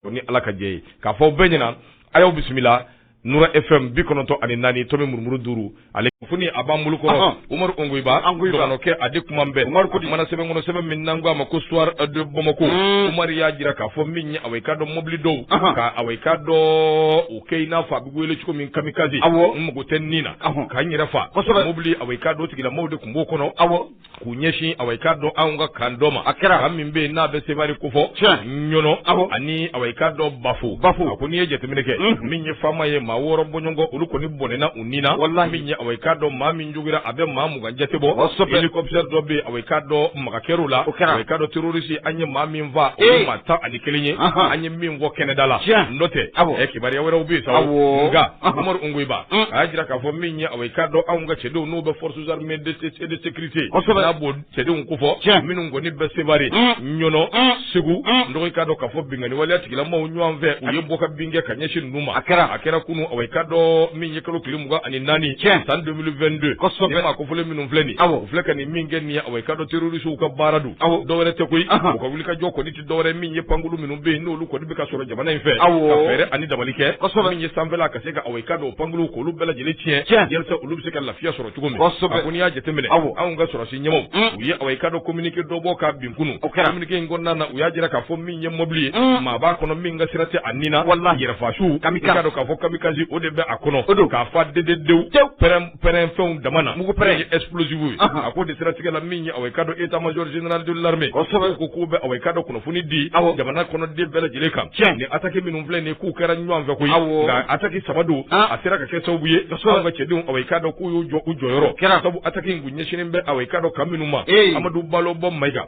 o ni ala ka jɛ ye k'a fɔ bɛɛ ɲɛna a y'aw bisimila nura FM bi kɔnɔntɔn ani naani tomi murumuru duuru ale kunnafoni a b'an bolo kɔrɔ umaru ungoyiba ankɛ a di kuma bɛɛ umaru ko mana sɛbɛn kɔnɔ sɛbɛn min n'an ko a ma ko soir de bamako mm. umaru y'a jira k'a fɔ min ye awa i k'a dɔn mɔbili dɔw ka awa i k'a dɔn o kɛ i n'a fɔ a bɛ wele cogo min kamikaze aw n mago tɛ n ni na k'an yɛrɛ faa mɔbili awa i k'a dɔn tigilamaaw de tun b'o kɔnɔ aw K'u ɲɛsin awa i k'a dɔn anw ka kan dɔ ma a kɛra kan min bɛ yen n'a bɛ Sevare kofɔ Ɲɔnɔ ani awa i k'a dɔn Bafo a ko n'i ye jateminɛ kɛ min ye faama ye maa wɔɔrɔ bɔɲɔgɔnko olu kɔni bɔnɛna u ni na min ye awa i k'a dɔn maa min jogora a bɛ maa mugan jate bɔ hélicoptère dɔ bɛ yen awa i k'a dɔn maga kɛr'o la awa i k'a dɔn terroriste an ye maa min faa o ye maa tan ani kelen ye an ye min fɔ kɛnɛda la n'o tɛ ɛ kibaruya wɛrɛw bɛ yen sa nka Umaru Ungoyiba a y'a jira k'a fɔ min ye awa i k'a dɔn anw ka cɛdenw n'o bɛ force armées de, et de sécurité Kosɛbɛ. n'a b'o cɛdenw kofɔ Tiɲɛ. minnu kɔni bɛ Sevare Mm. Ɲɔnɔ Mm. Segu Mm. dɔgɔ i k'a dɔn k'a fɔ binkanni waleya tigilamaaw ɲɔgɔn fɛ u ye bɔ ka bin kɛ ka ɲɛsin ninnu ma A kɛra. a kɛra kunu awa i k'a dɔn min ye kalo tile mugan ani naani Tiɲɛ. san 2022 Kosɛbɛ. nin maa kofɔlen minnu filɛ nin Awɔ. u filɛ ka nin min kɛ nin ye awa i k'a dɔn terrorisiw ka baara don Awɔ. dɔwɛrɛ tɛ koyi Ahan. u ka wulikajɔ kɔni dɔwɛrɛ min ye pankulu minnu bɛ yen n'olu kɔni bɛ ka sɔrɔ jamana in fɛ ka fɛɛrɛ ani dabali kɛ kosɛbɛ min ye sanfɛla ka se ka awa i k'a dɔn pankulu k'olu bɛɛ lajɛlen tiɲɛ tiɲɛ yasa olu bɛ se ka lafiya sɔrɔ cogo min kosɛbɛ a ko n'i y'a jateminɛ aw anw ka sɔrɔsi ɲɛmaaw mm. u ye awa i k'a dɔn communiqué dɔ bɔ ka bin kunun o kɛra communiqué in kɔnɔna na u y'a jira k'a fɔ min ye mɔbili ye mm. maa b'a kɔnɔ min ka sira tɛ a ni na walahi yɛrɛfasu kamikaze k'a fɔ kamikaze o de bɛ a kɔnɔ o don k'a fa dededenw tew pɛrɛn pɛrɛn fɛnw dama na mugu pɛrɛn ye explosif ye a ko in de siratigɛ la min ye awa i k'a dɔn état major général de l'armée kosɛbɛ ko k'u bɛ awa i k'a dɔn kunnafoni di awɔ jamana kɔnɔden bɛɛ lajɛlen kan tiɲɛ nin attaque minnu filɛ nin ye k'u kɛra ɲɔgɔn fɛ koyi awɔ nka attaque saba don a sera ka kɛ sababu ye kosɛbɛ an ka cɛdenw awa i k'a dɔn k'u y'u jɔ u jɔyɔrɔ kɛra sabu attaque in kun ɲɛsinnen bɛ awa i k'a dɔn kan minnu ma Amadu Balobo Mayiga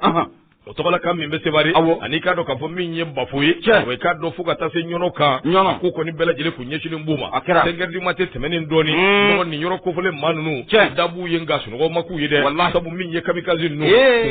o tɔgɔla kan min bɛ sevare aw ani i k'a dɔn k'a fɔ min ye bafo ye awa i k'a dɔn fo ka taa se ɲɔnɔ kan ɲɔnɔ ko kɔni bɛɛ lajɛlen kun ɲɛsinnen b'u ma a kɛra cinq heures du matin tɛmɛnen dɔɔni mɔgɔ nin yɔrɔ kofɔlen maa ninnu da b'u ye nka sunɔgɔ ma k'u ye dɛ walahi sabu min ye kamikaze ninnu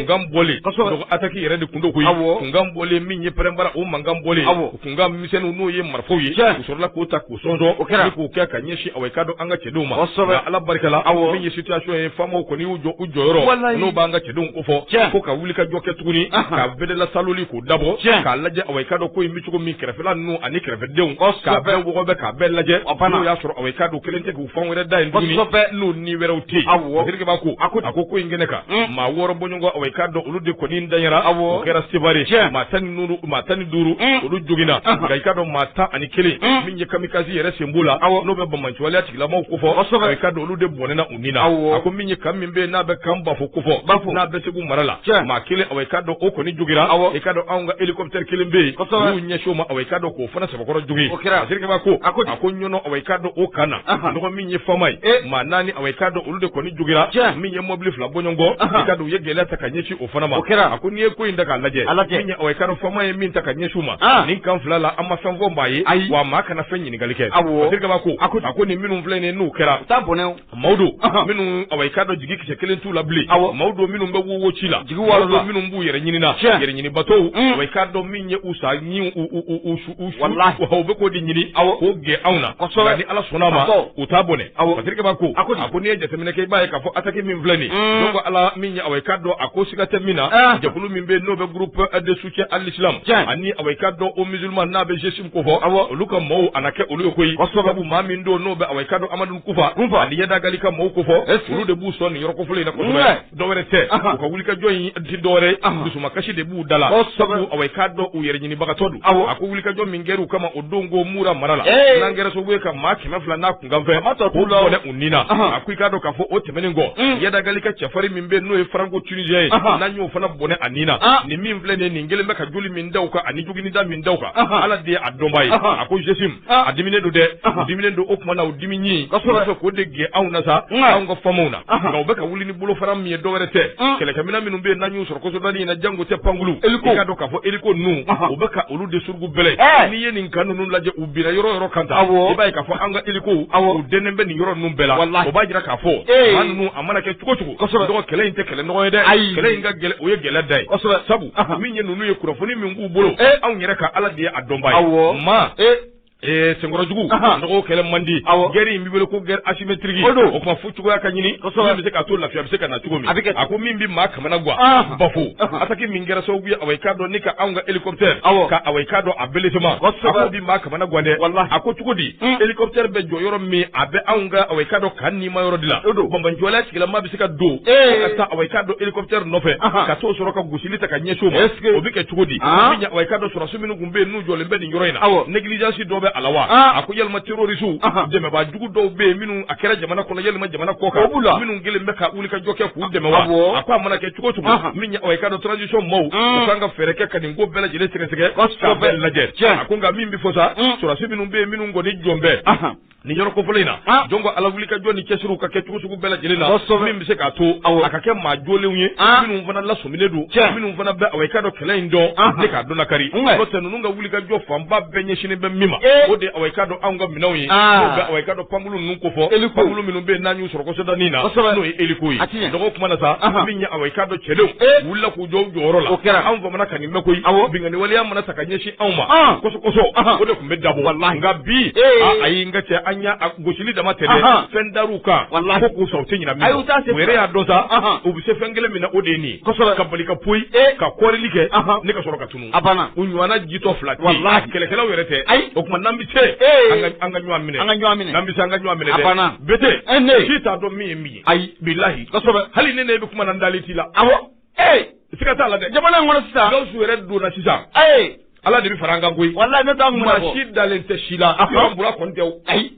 kunkan bɔlen kosɛbɛ ataki yɛrɛ de kun don koyi kunkan bɔlen min ye pɛrɛnbara o mankan bɔlen kunkan misɛnninw n'o ye marifaw ye u sɔrɔla k'o ta k'u sɔsɔ o kɛra k'u kɛ ka ɲɛsin awa i k'a dɔn an ka cɛdenw ma kosɛbɛ nka ala barikala awɔ min ye situation ye faamaw kɔni y'u jɔ u jɔyɔrɔ walayi n'o b'an ka cɛdenw kofɔ tiɲɛ ko ka wulikajɔ kɛ tuguni ka bedela saloli k'o dabɔ tiɲɛ k'a lajɛ awa i k'a dɔn ko in bɛ cogo min kɛrɛfɛla ninnu ani kɛrɛfɛdenw k'a bɛɛ wɔgɔbɛ k'a bɛɛ lajɛ n'o y'a sɔrɔ awa i k'a dɔn kelen tɛ k'u fan wɛrɛ da yen tuguni n'u ni wɛrɛw tɛ yen awɔ Sidikiba ko a ko a ko ko in kɛnɛ kan mm. maa wɔɔrɔ bɔɲɔgɔnko awa i k'a dɔn olu de kɔni danyara awɔ o kɛra Sevare maa tan ni duuru maa tan ni duuru mm. olu joginna nka i k'a dɔn maa tan ani kelen mm. ye kamikasi yɛrɛ sen b'o la aw n'o bɛ bamanciwaleya tigilamaw ko fɔ kosɛbɛ i k'a dɔn olu de bɔnɛna u ni na a ko min ye kan min bɛ yen n'a bɛ kan bafo ko fɔ bafo n'a bɛ segu mara la maa kelen awa i k'a dɔn o kɔni jogira awa i k'a dɔn anw ka hélicoptère kelen bɛ yen kosɛbɛ n'u ɲɛsin o ma awa i k'a dɔn k'o fana sɛbɛkɔrɔ jogin o kɛra Zirikaba ko a ko a ko ɲɔnɔ awa i k'a dɔn o kan na nɔgɔ min ye fama ye maa naani awa i k'a dɔn olu de kɔni jogira min ye mɔbili fila bɔɲɔgɔn kɔ i k'a dɔn u ye gɛlɛya ta ka ɲɛsin o fana ma o kɛra a ko n'i ye ko in ta k'a lajɛ Ala tɛ. min ye- ɔ, i k'a dɔn fama ye min ta ka ɲɛsin u ma Ah. nin kan fila la an ma fɛn fɔ maa ye Ayi. wa maa kana fɛn ɲininkali kɛ Awɔ. Paseke kaba ko A ko- a ko nin minnu filɛ nin ye n'u kɛra taa bɔnɛ o. maaw don Ahan. minnu awa i k'a dɔn jigi kisɛ kelen t'u la bilen Awɔ. maaw don minnu bɛ wowo ci la Jigi maaw waaro la. don minnu b'u yɛrɛ ɲinina Tiɲɛ. yɛrɛ ɲinibatɔw Mm. awa i k'a dɔn min ye u sa ɲin u u u u su wallahi o bɛ k'o de ɲini aw k'o gɛn anw na kosɛbɛ ni ala sɔnna ma u t'a bɔnɛ awɔ Patiriki b'a ko a ko n'i ye jateminɛ kɛ i b'a ye k'a fɔ ataki min filɛ nin ye ko ala min ye awa i k'a dɔn a ko siga tɛ min na ah. jɛkulu min bɛ n'o bɛ groupe de soutien à l'islam ani awa i k'a dɔn aux musulmans n'a bɛ jesim ko fɔ awɔ olu ka mɔɔw a na kɛ olu ye koyi sabu maa min don n'o bɛ awa i k'a dɔn amadu kufa ani yadagali ka mɔɔw ko fɔ olu de b'u sɔn nin yɔrɔ kofɔlen in na kosɛbɛ dɔwɛrɛ tɛ u ka wulikajɔ in tɛ dɔwɛrɛ dusumakasi de b'u da la sabu awa i k'a dɔn u yɛrɛ ɲinibagatɔ don a ko wulikajɔ min kɛra u kama o don ko mura mara la n'a kɛra sababu ye ka maa kɛmɛ fila n'a kunkanfɛn k'u bɔnɛ u ni na a ko i k'a dɔn k'a fɔ o tɛmɛnen kɔ mm. yadagali ka cɛfarin min bɛ n'o ye faranko tunisiyɛn ye n'an y'o fana bɔnɛ a ni na ah. nin min filɛ nin nin kelen bɛ ka joli min da u kan ani joginida min da u kan ala de ye a dɔnbaa ye a ko zesim Aa, a diminen don dɛ Ahan. a diminen don o tuma na o dimi ɲin Kosɛbɛ. Walasa k'o de gɛn anw na sa Nka. anw ka famaw na Ahan. nka u bɛ ka wuli ni bolofara min ye dɔwɛrɛ tɛ Un. kɛlɛkɛminɛn minnu bɛ yen n'an y'u sɔrɔ kɔsɔdani in na jango tɛ pankulu Eliko. i k'a dɔn k'a fɔ eliko ninnu Ahan. u bɛ ka olu de surugu bɛlɛ Ɛɛ. n'i ye nin kan ninnu lajɛ u binna yɔrɔ o yɔrɔ kan tan Awɔ. i b'a ye k'a fɔ an ka elikow Awɔ. u dɛnnen bɛ nin yɔrɔ ninnu bɛɛ la Walahi. o b'a jira k'a fɔ Ee. maa ninnu a mana kɛ cogo cogo Kosɛbɛ. dogo kɛlɛ in tɛ kɛlɛ nɔgɔ ye dɛ Ayi. kɛlɛ in ka gɛlɛn o ye gɛlɛn dan ye Kosɛbɛ. sabu min ye ninnu ye kunnafoni min b'u bolo anw yɛrɛ ka ala de ye a dɔnba ye maa Ee senkɔrɔjugu dogo kɛlɛ man di guerre min bɛ wele ko guerre asymétrique o don o tuma fo cogoya ka ɲini bɛ se k'a to lafiya bɛ se ka na cogo min a bɛ a ko min bɛ maa kamana gan bafo ataki min kɛra sababu ye awa i k'a dɔn ni ka anw ka hélicoptère ka awa i k'a dɔn a bereelesamasa bɛ maa kamana gan dɛ wala a ko cogo di hélicoptère bɛ jɔ yɔrɔ min a bɛ awa i k'a dɔn ka ni ma yɔrɔ de la o don bamanciwaleya tigilama se ka don ka taa awa i k'a dɔn hélicoptère nɔfɛ ka to sɔrɔ ka gosili ta ka ɲɛsin o ma o bɛ kɛ cogo di i k'a dɔn sɔrɔsiw minnu tun bɛ yen n'u jɔlen bɛ nin yɔrɔ in na négligence dɔ b'a la wa a ko yalima terorisi dɛmɛbajugu dɔw bɛ yen minnu a kɛra jamana kɔnɔ yalima jamana kɔ kan la minnu kelen bɛ ka wulikajɔ kɛ k'u dɛmɛ wa a ko a mana kɛ cogo cogo i k'a dɔn transition maaw kan ka fɛɛrɛ kɛ ka nin ko bɛɛ lajɛlen sɛgɛsɛgɛ lajɛ a ko nka min bɛ fɔ sa sɔrɔsi minnu bɛ yen minnu kɔni jɔlen bɛ nin yɔrɔ kofɔlen in na ah. janko a la wuli ka jɔ ni cɛsiri ka kɛ cogo sugu bɛɛ lajɛlen na min bɛ se k'a to a ka kɛ maa joolenw ye ah. minnu fana lasɔminen don minnu fana bɛ awɔ i k'a dɔn kɛlɛ in dɔn ah. ne k'a dɔn lakari n'o tɛ ninnu ka wuli ka jɔ fanba bɛɛ ɲɛsinnen bɛ min ma eh. o de awɔ i k'a dɔn anw ka minɛnw ye n'o bɛ awɔ i k'a dɔn pankulu ninnu kofɔ pankulu minnu bɛ yen n'an y'u sɔrɔ kɔsɔdanin na n'o ye eliko ye dɔgɔ kuma na sa min ye awɔ i k'a dɔn cɛdenw eh. wulila k'u jɔ u jɔyɔrɔ la o kɛra anw FAMa na ka nin mɛn koyi binkanni waleya mana ta ka ɲɛsin anw ma Ɔn. kosɛbɛ kosɛbɛ Ahan. o de tun bɛ dabɔ Walahi. nka bi Ee. a- ayi n ka cɛ an y'a a gosili dama tɛ dɛ Ahan. fɛn dar'u kan Walahi. ko k'u sa u tɛ ɲinɛ min A y'u ta se kɔ u yɛrɛ y'a dɔn sa Ahan. u bɛ se fɛn kelen min na o de ye nin ye Kosɛbɛ. ka bali ka poyi Ee. ka koorili kɛ Ahan. ne ka sɔrɔ ka tunu A banna. u ɲɔgɔnna jitɔ fila tɛ yen. Walahi. kɛlɛkɛlaw yɛrɛ tɛ Ayi. o tuma n'an bɛ se Ee. an ka- an ka ɲɔgɔn minɛ An ka ɲɔgɔn minɛ. n'an bɛ se an ka ɲɔgɔn minɛ A dɛ banna. bete E ne. si t'a dɔn min ye min ye Ayi. bilahi Kosɛbɛ. hali ne ne bɛ kuma na n dalen t'i la Awɔ. Ee siga t'a la dɛ jamana in kɔnɔ sisan gawusu yɛrɛ donna sisan ayi ala de bɛ fara an kan koyi walahi n'o tɛ maa si dalen tɛ si la a fɔra bura kɔni tɛ ayi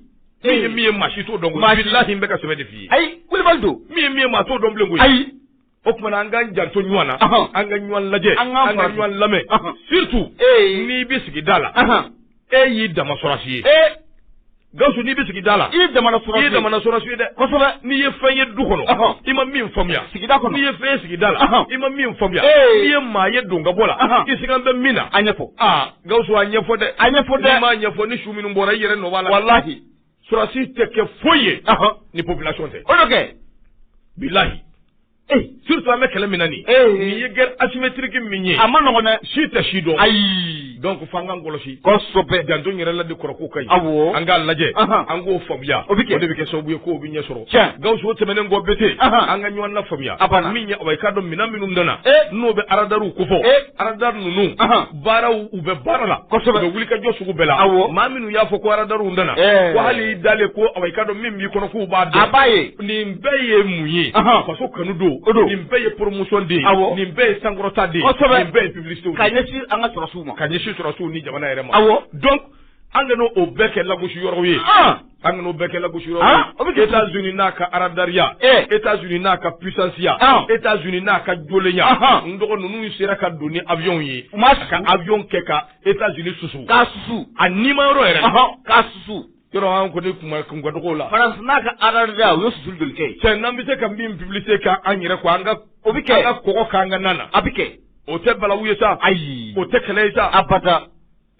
min ye min ye maa si t'o dɔn bilahi n bɛ ka sɛbɛ de f'i ye ayi wulibali don min ye min ye maa t'o dɔn bilen koyi ayi o tuma an ka janto ɲɔgɔn na an ka ɲɔgɔn lajɛ an ka ɲɔgɔn lamɛn surtout n'i bɛ sigida la e y'i dama sɔrɔsi ye ee Gawusu n'i bɛ sigida la i ye jamana sɔrɔsi ye i ye jamana sɔrɔsi ye dɛ kosɛbɛ n'i ye fɛn ye du kɔnɔ i ma min faamuya sigida kɔnɔ n'i ye fɛn ye sigida la i ma min faamuya n'i ye maa ye don ka bɔ la i sigan bɛ min na a ɲɛfɔ aa Gawusu a ɲɛfɔ dɛ a ɲɛfɔ dɛ n'i m'a ɲɛfɔ ni su minnu bɔra i yɛrɛ nɔ b'a la walahi sɔrɔsi tɛ kɛ foyi ye ni population tɛ o de kɛ bilahi Surtout an bɛ kɛlɛ min na nin ye guerre asymétrique min ye a man nɔgɔn dɛ si tɛ si dɔn ayi donc f'an k'an kɔlɔsi kosɛbɛ janto yɛrɛ la de kɔrɔfɔfo ka aw an k'a lajɛ an k'o faamuya o de bɛ kɛ sababu ye k'o bɛ ɲɛ sɔrɔ Gawusu o tɛmɛnen kɔ bete an ka ɲɔgɔn lafaamuya a min ɲɛ awɔ i k'a dɔn minɛn minnu nana n'o bɛ aradaw kofɔ arada ninnu baara u bɛ baara la kosɛbɛ u bɛ wuli ka jɔ sugu bɛɛ la awɔ maa minnu y'a fɔ ko aradariw nana ɛɛ ko hali i dalen ko awɔ i k'a dɔn min b'i kɔnɔ k'u b'a dɔn a b'a ye nin bɛɛ ye mun ye faso kanu don o don nin bɛɛ ye promotion de ye awɔ nin bɛɛ ye sankɔrɔta de ye kosɛbɛ nin bɛɛ ye publicité ka ɲɛsin an ka sɔrɔsiw ma ka ɲɛsin sɔrɔsiw ni jamana yɛrɛ ma awɔ donc an kana o bɛɛ kɛ lagosi yɔrɔw ye An kan'o bɛɛ kɛ lagosi yɔrɔ ye, an, o bɛ kɛ, Etats Unis n'a ka aradariya, ee, Etats Unis n'a ka puissance ya, an, Etats Unis n'a ka joolenya, anhan, n dɔgɔ ninnu sera ka don ni avion ye, u ma susu, ka avion kɛ ka Etats Unis susu, k'a susu, a nima yɔrɔ yɛrɛ la, ɔhɔ, k'a susu, yɔrɔ an kɔni kun ka kun ka dɔgɔ o la, France n'a ka aradariya u ye susuli joli kɛ yen? Cɛ n'an bɛ se ka min publicité kɛ an yɛrɛ kun, an ka, o bɛ kɛ, an ka kɔgɔ k'an ka nan na, a bɛ kɛ, o tɛ balawu ye sa, ayi, o tɛ kɛlɛ ye sa, abada.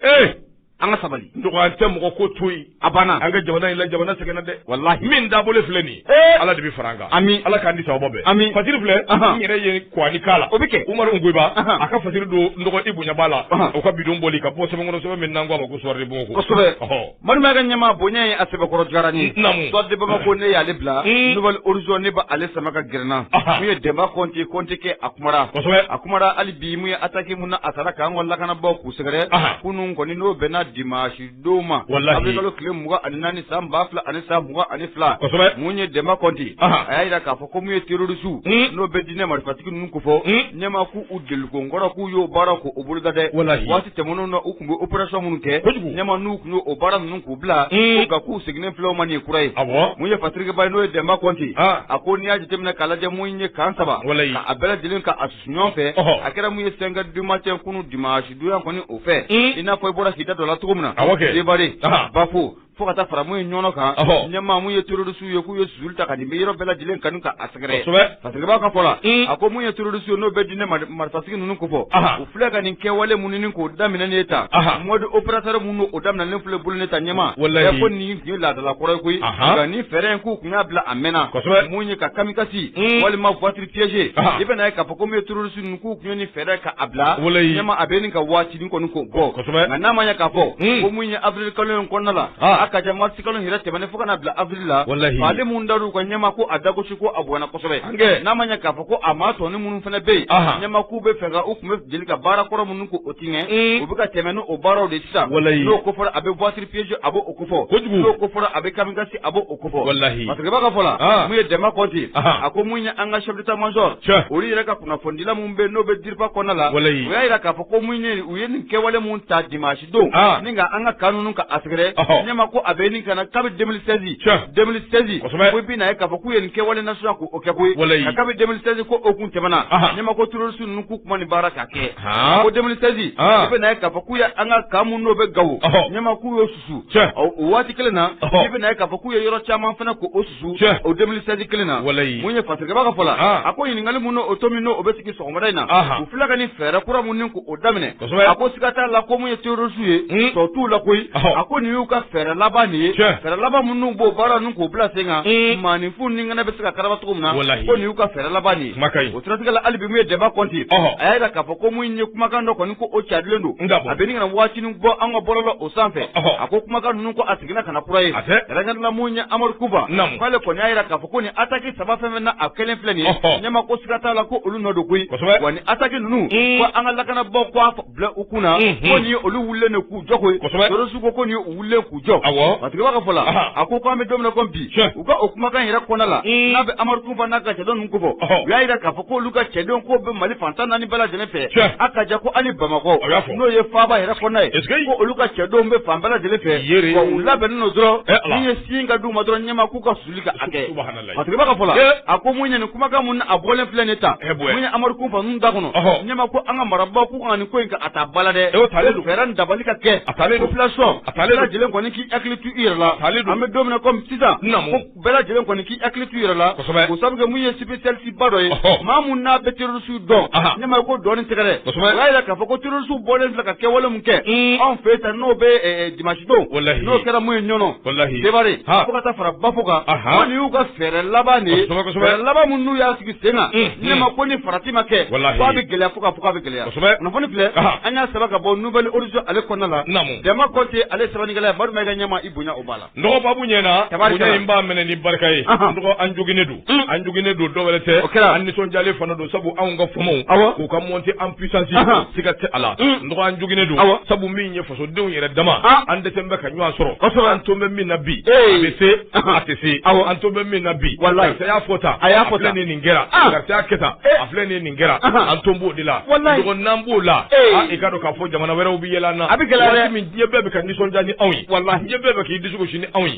ee an ka sabali n dɔgɔ an tɛ mɔgɔ ko to yen a banna an ka jamana in la jamana sɛgɛnna dɛ walahi min dabolo filɛ nin ye ala de bɛ fara an kan ami ala k'an di sababa bɛɛ ami fasiri filɛ n yɛrɛ ye ko an k'a kalan o bɛ kɛ umaru nkoyiba a ka fasiri don n dɔgɔ i bonya b'a la o ka bidon bɔli ka bɔ sɛbɛn kɔnɔ sɛbɛn min n'an k'a ma ko suwari bon kosɛbɛ Malima ka ɲɛmaa bonya ye a sɛbɛkɔrɔ journal Soir de Bamako ne y'ale bila Nouvel Horizon ne b' ale sama ka gɛrɛ n na mun ye Dɛnba kɔnte kɔnte kɛ a kumara a kumara hali bi mun ye attaque min na a taara k'an ka lakanabaw k'u sɛgɛrɛ kunun kɔni n'o bɛnna dimasi don ma awirili kalo tile mugan ani naani san ba fila ani san mugan ani fila mun ye Dɛnba kɔnte a y'a jira k'a fɔ ko mun ye terorisiw n'o bɛ diinɛ marifatigi ninnu kofɔ ɲɛma ko u delikokɔrɔ k'u y'o baara ko o boloda dɛ waati tɛmɛnen na u tun bɛ opération minnu kɛ ɲɛma n'u tun y'o baara ninnu k'u bila ko k'u seginnen filɛ u ma nin kura ye mun ye fasirikɛba n'o ye Dɛnba kɔnte a ko n'i y'a jateminɛ k'a lajɛ mun ye kan saba a bɛɛ lajɛlen ka a susu ɲɔgɔn fɛ a kɛra mun ye cinq heures du matin kunun dimasi don ya kɔni o fɛ i n'a fɔ i bɔra k'i da dɔ la cogo min na Seware Bafo fo ka taa fara mun ye ɲɔnɔ kan ɲɛmaa mun ye terroriste ye k'u ye susuli ta ka nin yɔrɔ bɛɛ lajɛlen kan ka a sɛgɛrɛ fasirikɛba ka fɔ la a ko mun ye terroriste ye n'o bɛ diinɛ marifatigi ninnu kofɔ u filɛ ka nin kɛwale minnu k'o daminɛ ne ta mode opératoire min o daminɛnen filɛ u bolo ne ta ɲɛma ɛ ko nin tun ye laadala kɔrɔ ye koyi nka nin fɛɛrɛ in k'u tun y'a bila a mɛnna mun ye ka kamikasi walima voiture piégée i bɛna ye k'a fɔ ko mun ye terroriste k'u tun ye nin fɛɛrɛ ka a bila ɲɛma a bɛ ɲini ka waatinin kɔni k'o bɔ nka n'a ma ɲɛ k'a fɔ ko mun ye awirili kalo in kɔnɔna la a ka jan marisi kalo yɛrɛ tɛmɛnen fo ka na bila awirili la ale minnu dara u kan ɲɛma ko a dagosi ko a bonyana kosɛbɛ n'a ma ɲɛ k'a fɔ ko a maa tɔnin minnu fana bɛ yen ɲɛma k'u bɛ fɛ ka u tun bɛ deli ka baara kɔrɔ minnu k'o tigɛ u bɛ ka tɛmɛ ni o baaraw de sisan n'o ko fɔra a bɛ piégée a b'o ko fɔ, kojugu, n'o ko fɔra a bɛ kamikaze a b'o ko fɔ, walahi, fasirikɛba ka fɔ la, ɔn, mun ye Dɛnba Kɔnte, ɔnhɔn, a ko mun ye an ka chef d'état major, tiɲɛ, olu yɛrɛ ka kunnafonidila minnu bɛ yen n'o bɛ DIRPA kɔnɔna la, walahi, u y'a jira k'a fɔ ko mun ye u ye nin kɛwale minnu ta dimasi don, an, ni ka an ka kan ninnu ka a sɛgɛrɛ, ɔhɔ, ɲɛma ko a bɛ ɲini ka na kabi 2016, tiɲɛ, 2016, kosɛbɛ, ko i bɛna ye k'a fɔ k'u ye nin kɛwale nasuguya k'o kɛ koyi, walahi, nka kabi 2016 ko o tun tɛmɛna, anhan, ɲɛma ko terroriste k'u tun ma nin baara k'a kɛ ko 2016 i bɛna ye k'a fɔ k'u ye an ka kan min n'o bɛ gawo ɲɛma k'u y'o susu o waati kelen na i bɛna ye k'a fɔ k'u ye yɔrɔ caman fana ko o susu o 2016 kelen na mun ye fasirikɛba ka fɔ la a ko ɲininkali minnu o to min o bɛ sigi sɔgɔmada in na u filɛ ka nin fɛɛrɛ kura minnu ko o daminɛ a ko siga t'a la ko mun ye terorisiw ye hmm. tɔ t'u la koyi a ko nin y'u ka fɛɛrɛ laban nin ye fɛɛrɛ laban minnu b'o baara ninnu k'u bila sen kan hmm. maaninfin ni bɛ se ka karaba cogo min na ko nin y'u ka fɛɛrɛ laban nin ye O siratigɛ la hali bi min ye Dɛnba Kɔnte, ɔhɔ, a y'a jira k'a fɔ ko min ye kumakan dɔ kɔni ko o carilen don, a bɛ ɲini ka na wagatinin bɔ an ka bɔlɔlɔw sanfɛ, ɔhɔ, a ko kumakan ninnu ko a seginna ka na kura ye, a tɛ, kɛrɛnkɛrɛnnenya la min ye Amadu Kufa, naamu, k'ale kɔni y'a jira k'a fɔ ko nin attaque saba fɛn o fɛn na a kɛlen filɛ nin ye, ɔhɔ, ɲɛma ko siga t'a la ko olu nɔ don koyi, kosɛbɛ, wa nin attaque ninnu, un, ko an ka lakanabaaw k'a fɔ bila u kun na ko ni olu wili de k'u jɔ koyisusu ko ko u wili k'u jɔ a tigiba ka fɔ la a ko ko an bɛ don min na ko bi u ka o kumakan yɛrɛ kɔnɔna la n'a bɛ amadu kunfa n'a ka cɛden ninnu kofɔ u y'a jira k'a fɔ ko olu ka cɛdenw ko bɛ mali fan tan ni naani bɛɛ lajɛlen fɛ a ka jɛ ko ani bamakɔ n'o ye faaba yɛrɛ kɔnɔna ye ko olu ka cɛdenw bɛ fan bɛɛ lajɛlen fɛ u labɛnnen don dɔrɔn n'i ye cikan di u ma dɔrɔn ɲɛma k'u ka susuli ka a kɛ A tigiba ka fɔ la, ee, a ko mun ye nin kumakan minnu a bɔlen filɛ nin ye tan, ee bonya, mun ye Amadu Kunfa ninnu da kɔnɔ, ɔhɔ, Ɲɛma ko an ka marabaaw k'u kana nin ko in a ta ba la dɛ, ee, o talen don, fɛɛrɛ dabali ka kɛ, a talen don, population, a talen don, bɛɛ lajɛlen kɔni k'i hakili to i yɛrɛ la, a talen don, an bɛ don min na komi sisan, n naamu, ko bɛɛ lajɛlen kɔni k'i hakili to i yɛrɛ la, kosɛbɛ, ko sabu kɛ mun ye spécialiste ba dɔ ye, ɔhɔ, maa min n'a bɛ terroriste dɔn, anhan, Ɲɛma ko dɔɔni tɛ dɛ, kosɛbɛ, o y'a jira k'a fɔ ko terroriste bɔlen filɛ ka kɛwale min kɛ, un, anw fɛ yen tan n'o bɛ ɛɛ dimanche don walahi n'o kɛra mun ye ɲɔnɔ walahi seware fo ka taa fara bafo kan ko nin y'u ka fɛɛrɛ laban de ye fɛɛrɛ laban minnu n'u y'a sigi sen kan ɲɛma ko ni farati ma kɛ fo a bɛ gɛlɛya fo k'a fɔ k'a bɛ gɛlɛya kunnafoni filɛ an y'a sɛbɛn ka bɔ nouvel horizon ale kɔnɔna la demba kɔnte ale sɛbɛnnikɛla ye Madu Mayiga ɲɛma i bonya o b'a la n dɔgɔ babu ɲɛna bonya in b'a minɛ ni barika ye n dɔgɔ an joginnen don an joginnen don dɔwɛrɛ tɛ kɛra an nisɔndiyalen fana don sabu anw ka famaw k'u ka montée en puissance siga tɛ a la n dɔgɔ an joginnen don aw sabu min ye fasodenw yɛrɛ dama an dɛsɛlen bɛ ka ɲɔgɔn sɔrɔ ka sɔrɔ an to bɛ min na bi bɛ se a tɛ se aw an to bɛ min na bi wala y'a fɔ ta a y'a fɔ ni nin kɛra ka kɛ a filɛ ni nin kɛra an to b'o de la n'an b'o la i k'a dɔn k'a fɔ jamana wɛrɛw bɛ yɛlɛ an na a bɛ gɛlɛya min diɲɛ bɛɛ bɛ ka nisɔndiya ni anw ye wala diɲɛ bɛɛ bɛ k'i disi gosi ni anw ye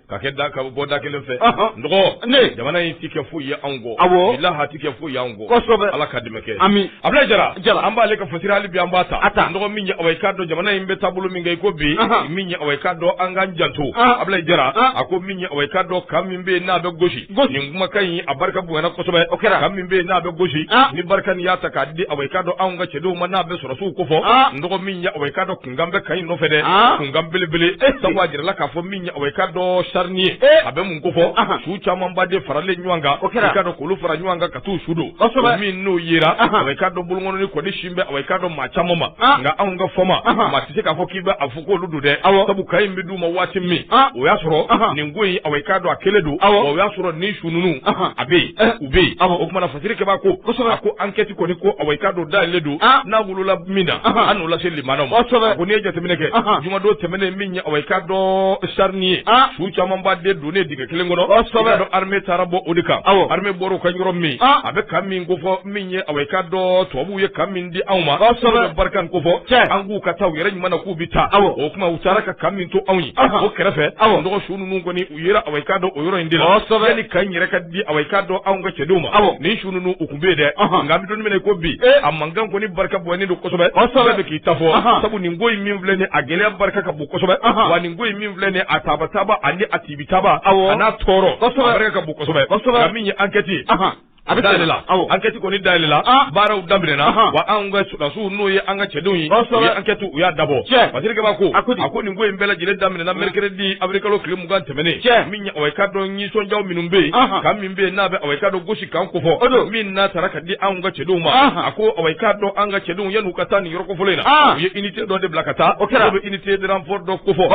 ka kɛ da ka bɔ da kelen fɛ dɔgɔ jamana in tɛ kɛ foyi ye anw kɔ walahi a tɛ kɛ foyi ye anw kɔ ala ka dɛmɛ kɛ ami abulayi jara an b'ale ka fasira hali bi an b'a ta a ta dɔgɔ min ye awa i k'a dɔn jamana in bɛ taabolo min kan i ko bi min ye awa i k'a dɔn an k'an janto abulayi jara a ko min ye awa i k'a dɔn camp min bɛ n'a bɛ gosi nin kumakan in a barika bonyana kosɛbɛ o kɛra camp min bɛ n'a bɛ gosi ni barkhane y'a ta k'a di awa i k'a dɔn anw ka cɛdenw ma n'a bɛ sɔrɔdasiw kofɔ dɔgɔ min ye awa i k'a dɔn nkan bɛ camp in nɔfɛ dɛ mankan belebele sabu a jirala k'a fɔ min ye awa i k'a dɔn charnier a bɛ mun kofɔ su camanba de faralen ɲɔgɔn kan o kɛra ka don k'olu fara ɲɔgɔn kan ka taa su don min n'o yera awa i k'a dɔn bolokɔni kɔni sinnen bɛ awa i k'a dɔn maa caman ma nka anw ka fama maa tɛ se k'a fɔ k'i bɛ a fɔ k'olu don dɛ aw sabu camp in bɛ d'u ma waati min o y'a sɔrɔ nin ko in awa i k'a dɔn a kɛlen don o y'a sɔrɔ nin su ninnu a bɛ yen u bɛ yen o tuma na fasirikɛbaa ko a ko enquête kɔni ko awa i k'a dɔn dayɛlɛlen don n'a wolola min na an n'o lase lamɛnnaw ma ko n'i ye jateminɛ kɛ jumadon tɛmɛnen min ye awa i k'a dɔn charnier su camanba de donnen dingɛ kelen kɔnɔ don armée taara bɔ o de kan aw armée bɔra ka yɔrɔ min a bɛ camp min kofɔ min ye awa i k'a dɔn tubabuw ye camp min di anw ma barkhane kofɔ cɛ an k'u ka taa u yɛrɛ ɲuman na k'u bɛ taa aw o tuma u taara ka camp min to anw ye o kɛrɛfɛ aw dɔgɔ su ninnu kɔni u yera awa i k'a dɔn o yɔrɔ in de la kosɛbɛ yani kan yɛrɛ ka di awa i k'a dɔn anw ka cɛdenw ma awɔ nin su ninnu u tun bɛ yen dɛ nka an bɛ don min na i ko bi eh. a mankan kɔni barika bonyanen don kosɛbɛ kosɛbɛ bɛɛ k'i ta fɔ sabu nin ko in min filɛ nin a gɛlɛya barika ka bon kosɛbɛ wa nin ko in min filɛ nin a tabataba ani a tibitaba awɔ a n'a tɔɔrɔ kosɛbɛ barika ka bon kosɛbɛ kosɛbɛ nka min ye enquête ye A bɛ da la enquête kɔni da la baaraw daminɛna wa an ka sɔrɔdasiw n'o ye an ka cɛdenw ye enquête u y'a dabɔ Basiri Kaba ko a ko nin ko in bɛɛ lajɛlen daminɛna mercredi avril kalo tile mugan tɛmɛnen ka dɔn nisɔndiya minnu bɛ yen kan min bɛ n'a bɛ ka dɔn Gosi kan ko fɔ o min n'a taara ka di an ka cɛdenw ma a ko ka dɔn an ka cɛdenw yan'u ka taa nin yɔrɔ kofɔlen in na u ye unité dɔ de bila ka taa o kɛra bɛ unité de renfort dɔ kofɔ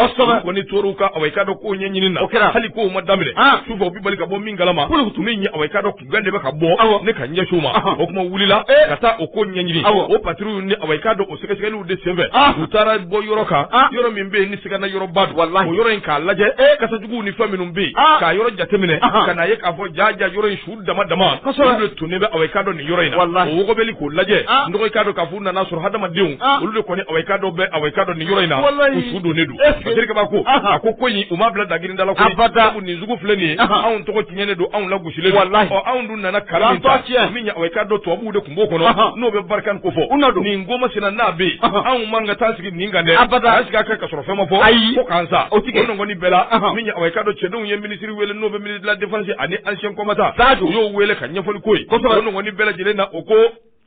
kɔni ka ka dɔn ko ɲɛɲini na o kɛra hali k ko ma daminɛ su bali ka bɔ kalama ko tun bɛ yen aw k'a dɔn kunkan de bɛ ka bɔ aw ne ka ɲɛsin u ma o tuma u wulila ka taa o ko ɲɛɲini o patrouille ni aw k'a dɔn o sɛgɛsɛgɛliw de senfɛ u taara bɔ yɔrɔ kan yɔrɔ min bɛ yen ni sigana yɔrɔba don wala o yɔrɔ in k'a lajɛ e kasajuguw ni fɛn minnu bɛ yen k'a yɔrɔ jateminɛ ka n'a ye k'a fɔ jaaja yɔrɔ in su dama dama kosɛbɛ tun bɛ aw k'a dɔn nin yɔrɔ in na o wɔgɔbɛli k'o lajɛ n k'a dɔn k'a fɔ u nan'a sɔrɔ hadamadenw ah. olu de kɔni awa i k'a dɔn bɛ awa i k'a dɔn nin yɔrɔ in na u su donnen don Basiri Kaba ko a ko ko in u ma bila dagirinda la ko nin sugu filɛ nin ye anw tɔgɔ tiɲɛnen don anw lagosilen don ɔ anw dun nana kan min ta min ye awa i k'a dɔn tubabuw de tun b'o kɔnɔ n'o bɛ Barkhane ko fɔ nin ko masina n'a bɛ yen anw man ka taa sigi nin kan dɛ an sigi a kɛ ka sɔrɔ fɛn ma fɔ ko k'an sa o tigɛ o nɔgɔni bɛɛ la min ye awa i k'a dɔn cɛdenw ye minisiri wele n'o bɛ minisiri de la défense ani anciens combattants u y'o wele ka ɲɛfɔli k'o ye o nɔgɔni bɛɛ lajɛlen na o ko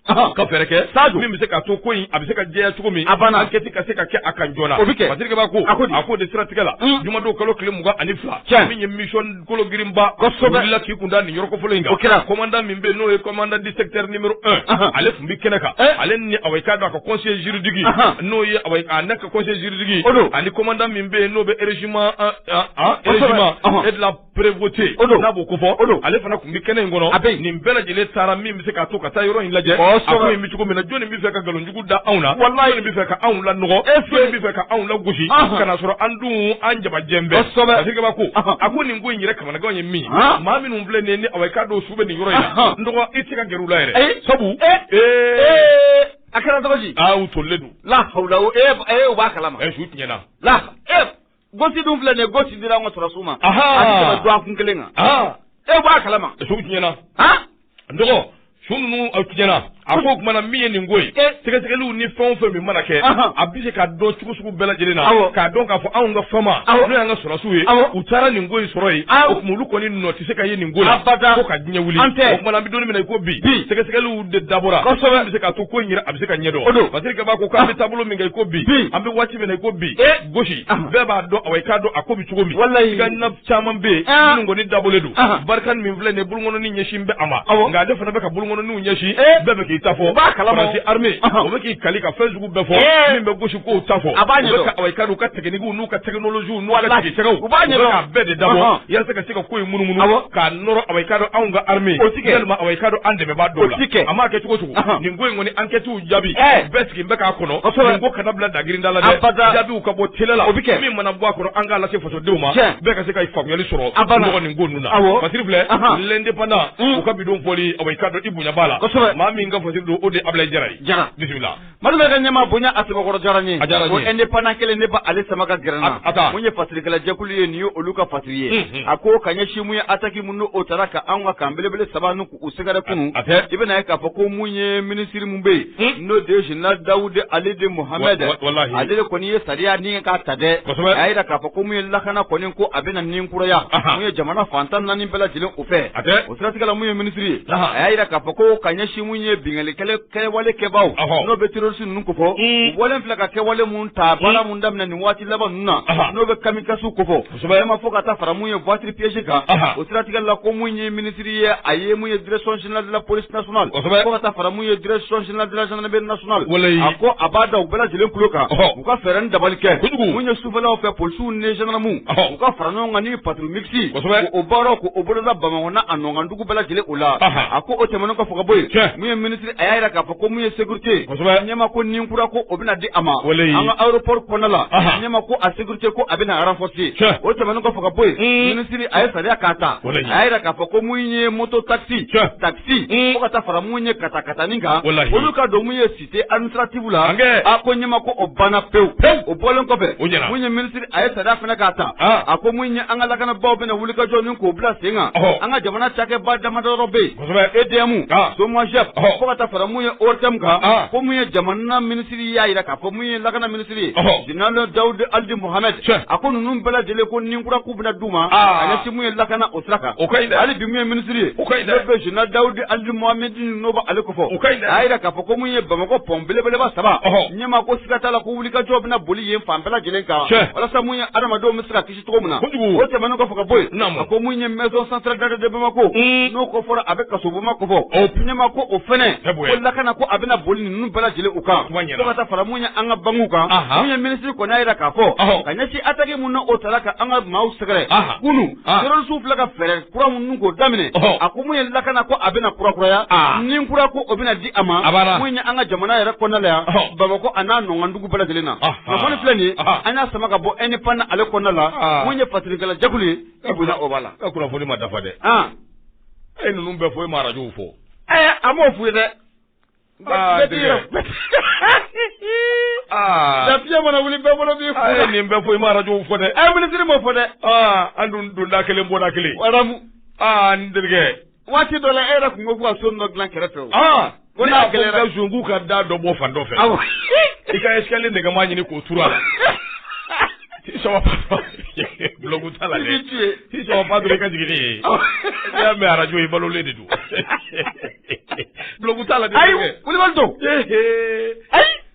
Ka fɛɛrɛ kɛ sa min bɛ se ka to ko in a bɛ se ka jɛya cogo min enquête ka se ka kɛ a kan joona Basiri Kaba ko a a ko o de siratigɛ la jumadon kalo tile mugan ani fila cɛ min ye mission kologirinba bila k'i kun da nin yɔrɔ kofɔlen in o kɛra commandant min bɛ n'o ye commandant du secteur numéro un ale tun bɛ kɛnɛ kan ale ni awa k'a dɔn a ka conseiller juridique n'o ye ne ka conseiller juridique o don ani commandant min bɛ yen n'o bɛ régiment e prévôté o don n'a b'o kofɔ o don ale fana tun bɛ kɛnɛ in kɔnɔ a bɛ nin bɛɛ lajɛlen taara min bɛ se k'a to ka taa yɔrɔ in lajɛ a ko in bɛ cogo min na jɔnni bɛ fɛ ka nkalonjugu da anw na walayi jɔnni bɛ fɛ ka anw lanɔgɔ e jɔnni bɛ fɛ ka anw lagosi ka n'a sɔrɔ an dun an jabajɛ bɛɛ kosɛbɛ Basiri Kaba ko a ko nin ko in yɛrɛ kamanagan ye min maa minnu filɛ nin ye ni awa k'a dɔn u su bɛ nin yɔrɔ in n dɔgɔ i tɛ se ka gɛrɛ u la yɛrɛ sabu ee a kɛra cogo di aa u tolilen don la hawula o ee i b'a kalama su tiɲɛna la ee Gosi dun filɛ nin ye Gosi dira an ka sɔrɔsiw ma Ahaa. a tɛ tɛmɛ dɔgɔkun kelen kan aa e b'a kalama suw tiɲɛna han n dɔgɔ su ninnu u tiɲɛna a ko o tuma na min ye nin ko ye Eh. sɛgɛsɛgɛliw ni fɛn o fɛn min mana kɛ Ahan. a bɛ se ka dɔn cogo sugu bɛɛ lajɛlen na Awɔ. k'a dɔn k'a fɔ anw ka FAMa Awɔ. n'o y'an ka sɔrɔsiw ye Awɔ. u taara nin ko in sɔrɔ yen Awɔ. o tuma olu kɔni nɔ tɛ se ka ye nin ko la Abada. fo ka diɲɛ wuli An tɛ. o tuma na an bɛ don min na i ko bi Bi. sɛgɛsɛgɛliw de dabɔra Kosɛbɛ. a bɛ se k'a to ko in yɛrɛ a bɛ se ka ɲɛdɔn O don. Basiri Kaba ko k'an bɛ taabolo min kan i ko bi Bi. an bɛ waati min na i ko bi Eh. gosi bɛɛ b'a dɔn a i k'a dɔn a ko bɛ cogo min wala i ka na caman bɛ yen kɔni dabolo dɔw Barkhane min filɛ nin bolokɔnin ɲɛsinnen bɛ a ma nka ale fana bɛ ka bolokɔninw ɲɛsin bɛɛ bɛ k'i ta fɔ b'a kala se armée o bɛ k'i kali ka fɛn sugu bɛɛ fɔ min bɛ gosi ko ta fɔ a b'a ɲɛ ka u ka techniquew n'u ka technologiew n'u ala sɛgɛ u b'a ɲɛ ka bɛɛ de dabɔ walasa ka se ka ko in munumunu k'a nɔrɔ a ka anw ka armée o ka an dɛmɛbaa dɔw la a ma kɛ cogo o cogo nin ko in kɔni enquête jaabi bɛɛ sigi bɛ k'a kɔnɔ ko kana bila dagrinda la jaabiw ka bɔ t la o bɛ kɛ min mana bɔ a kɔnɔ an k'a lase fasodenw ma bɛɛ ka se ka faamuyali sɔrɔ mɔgɔ nin ko ninnu na fasiri filɛ L'Indépendant mm. u ka bi don bɔli a i ka dɔn i bonyaba la maa min ka fasiri don o de abila jara ye jara bisimila mali bɛ ka ɲɛma bonya a sabakɔrɔ diyara ye ko Indépendant kelen ne ba ale sama ka gɛrɛ an na a mun ye fasirikɛlajɛkulu ye nin ye olu ka fasiri ye mm-hmm. a ko ka ɲɛsin mun ye ataki minnu o taara ka anw ka kan belebele saba U sɛgɛrɛ kunun a tɛ i bɛna a ye k'a fɔ ko mun ye minisiri min bɛ yen n'o de ye général Dawuda Alidi Mohamed ale kɔni ye sariya ni k'a ta dɛ a y'a jira k'a fɔ ko mun ye lakana kɔni ko a bɛna ni kuraya mun ye jamana fan tan ni naani bɛɛ lajɛlen u fɛ a o siratigɛ la min ye minisiri ye a y'a jira k'a fɔ ko ka ɲɛsin mun ye binkanni kɛwale kɛbaw n'o bɛ terrorisi ninnu kofɔ wale filɛ ka kɛwale minnu ta baara minnu daminɛ nin waati laban ninnu na n'o bɛ kamikazew kofɔ Sɛbɛ ɲɛma fo ka taa fara mun ye voiture piégée kan o siratigɛ la ko mun ye minisiri ye a ye mun ye direction générale de la police nationale fo ka taa fara mun ye direction générale de la gendarmerie nationale a ko a b'a da u bɛɛ lajɛlen kulo kan u ka fɛɛrɛ ni dabali kɛ ko mun ye sufɛlaw fɛ polisiw ni gendarmew u ka fara ɲɔgɔn kan ni patrouille mixte o baara ko o boloda Bamakɔ a n'a nɔkan dugu bɛɛ lajɛlen u la a ko o tɛmɛnen kɔfɛ ka bɔ yen mun ye mini a y'a jira k'a fɔ ko mun ye sécurité kosɛbɛ a ɲɛ ma ko ni kura ko o bɛna di a ma walayi an ka aéroport kɔnɔna la a ɲɛ ma ko a sécurité ko a bɛna renforcer o tɛmɛnen kɔfɛ ka bɔ yen minisiri a ye sariya k'a ta a y'a jira k'a fɔ ko mun ye moto taxi taxi fo ka taa fara mun ye katakatanin kan olu ka don mun ye cité administrative la a ko ɲɛ ma ko o banna pewu o bɔlen kɔfɛ mun ye minisiri a ye sariya fana k'a ta a ko mun ye an ka lakanabaaw bɛna wulikajɔ nin k'o bila sen kan an ka jamana cakɛba damadɔ bɛ yen kosɛbɛ EDM ɔɔ SOMAGEP ɔhɔ fo ka taa fara mun ye ORTM kan ɔɔ ko mun ye jamana minisiri y'a jira k'a fɔ mun ye lakana minisiri ye ɔhɔ général Dawuda Alidi Mohamed tiɲɛ a ko ninnu bɛɛ lajɛlen ko ni kura k'u bɛna d'u ma aa a ɲɛsin mun ye lakana o sira kan o ka ɲi dɛ hali bi mun ye minisiri ye o ka ɲi dɛ n'o bɛ général Dawudi Alidi Mohamed n'o bɛ ale kofɔ o ka ɲi dɛ a y'a jira k'a fɔ ko mun ye Bamakɔ pont belebeleba saba ɔhɔ ɲɛma ko siga t'a la ko wulikajɔ bɛna boli yen fan bɛɛ lajɛlen kan tiɲɛ walasa mun ye adamadenw bɛ se ka kisi cogo min na o tɛmɛnen kɔfɛ ka bɔ yen a ko mun ye maison centrale d'arrêt de Bamako n'o kɔrɔ a bɛ kasobonba kofɔ ɲɛma ko o fɛnɛ ko lakana ko a bɛna boli ninnu bɛɛ lajɛlen u kan fo ka taa fara mun ye an ka bankiw kan mun ye minisiri kɔni y'a jira k'a fɔ ka ɲɛsin attaque minnu o taara ka an ka maaw sɛgɛrɛ kunu terrorisiw filɛ ka fɛɛrɛ kura minnu k'o daminɛ a ko mun ye lakana ko a bɛna kurakuraya ni kura ko o bɛna di a ma mun ye an ka jamana yɛrɛ kɔnɔna la yan Bamako a n'a nɔkan ko bɛɛ lajɛlen na kunnafoni filɛ nin ye an y'a sama ka bɔ e ni pan ale kɔnɔna la mun ye fatirikɛla jɛkulu ye e bɛna o b'a la e kunnafoni ma dafa dɛ e ninnu bɛɛ fɔ e ma arajo fɔ ɛɛ an b'o f'u ye dɛ fiɲɛ mana wuli bɛɛ bolo b'i fɔ ye nin bɛɛ fɔ i ma arajo fɔ dɛ ɛ minisiri m'o fɔ dɛ an dun donda kelen bɔda kelen waramu aa n terikɛ waati dɔ la e yɛrɛ tun ko ko ka so dɔ dilan kɛrɛfɛ o ko n'a gɛlɛyara k'a sɔgɔ ka da dɔ bɔ fan dɔ fɛ awɔ i ka escalier nɛgɛma ɲini k'o turu a la sɔgɔ patron bulɔku t'a la dɛ i sɔgɔ patron i ka jigin ni ye i y'a mɛn arajo in balolen de don bulɔku t'a la dɛ ayi kulubali don ayi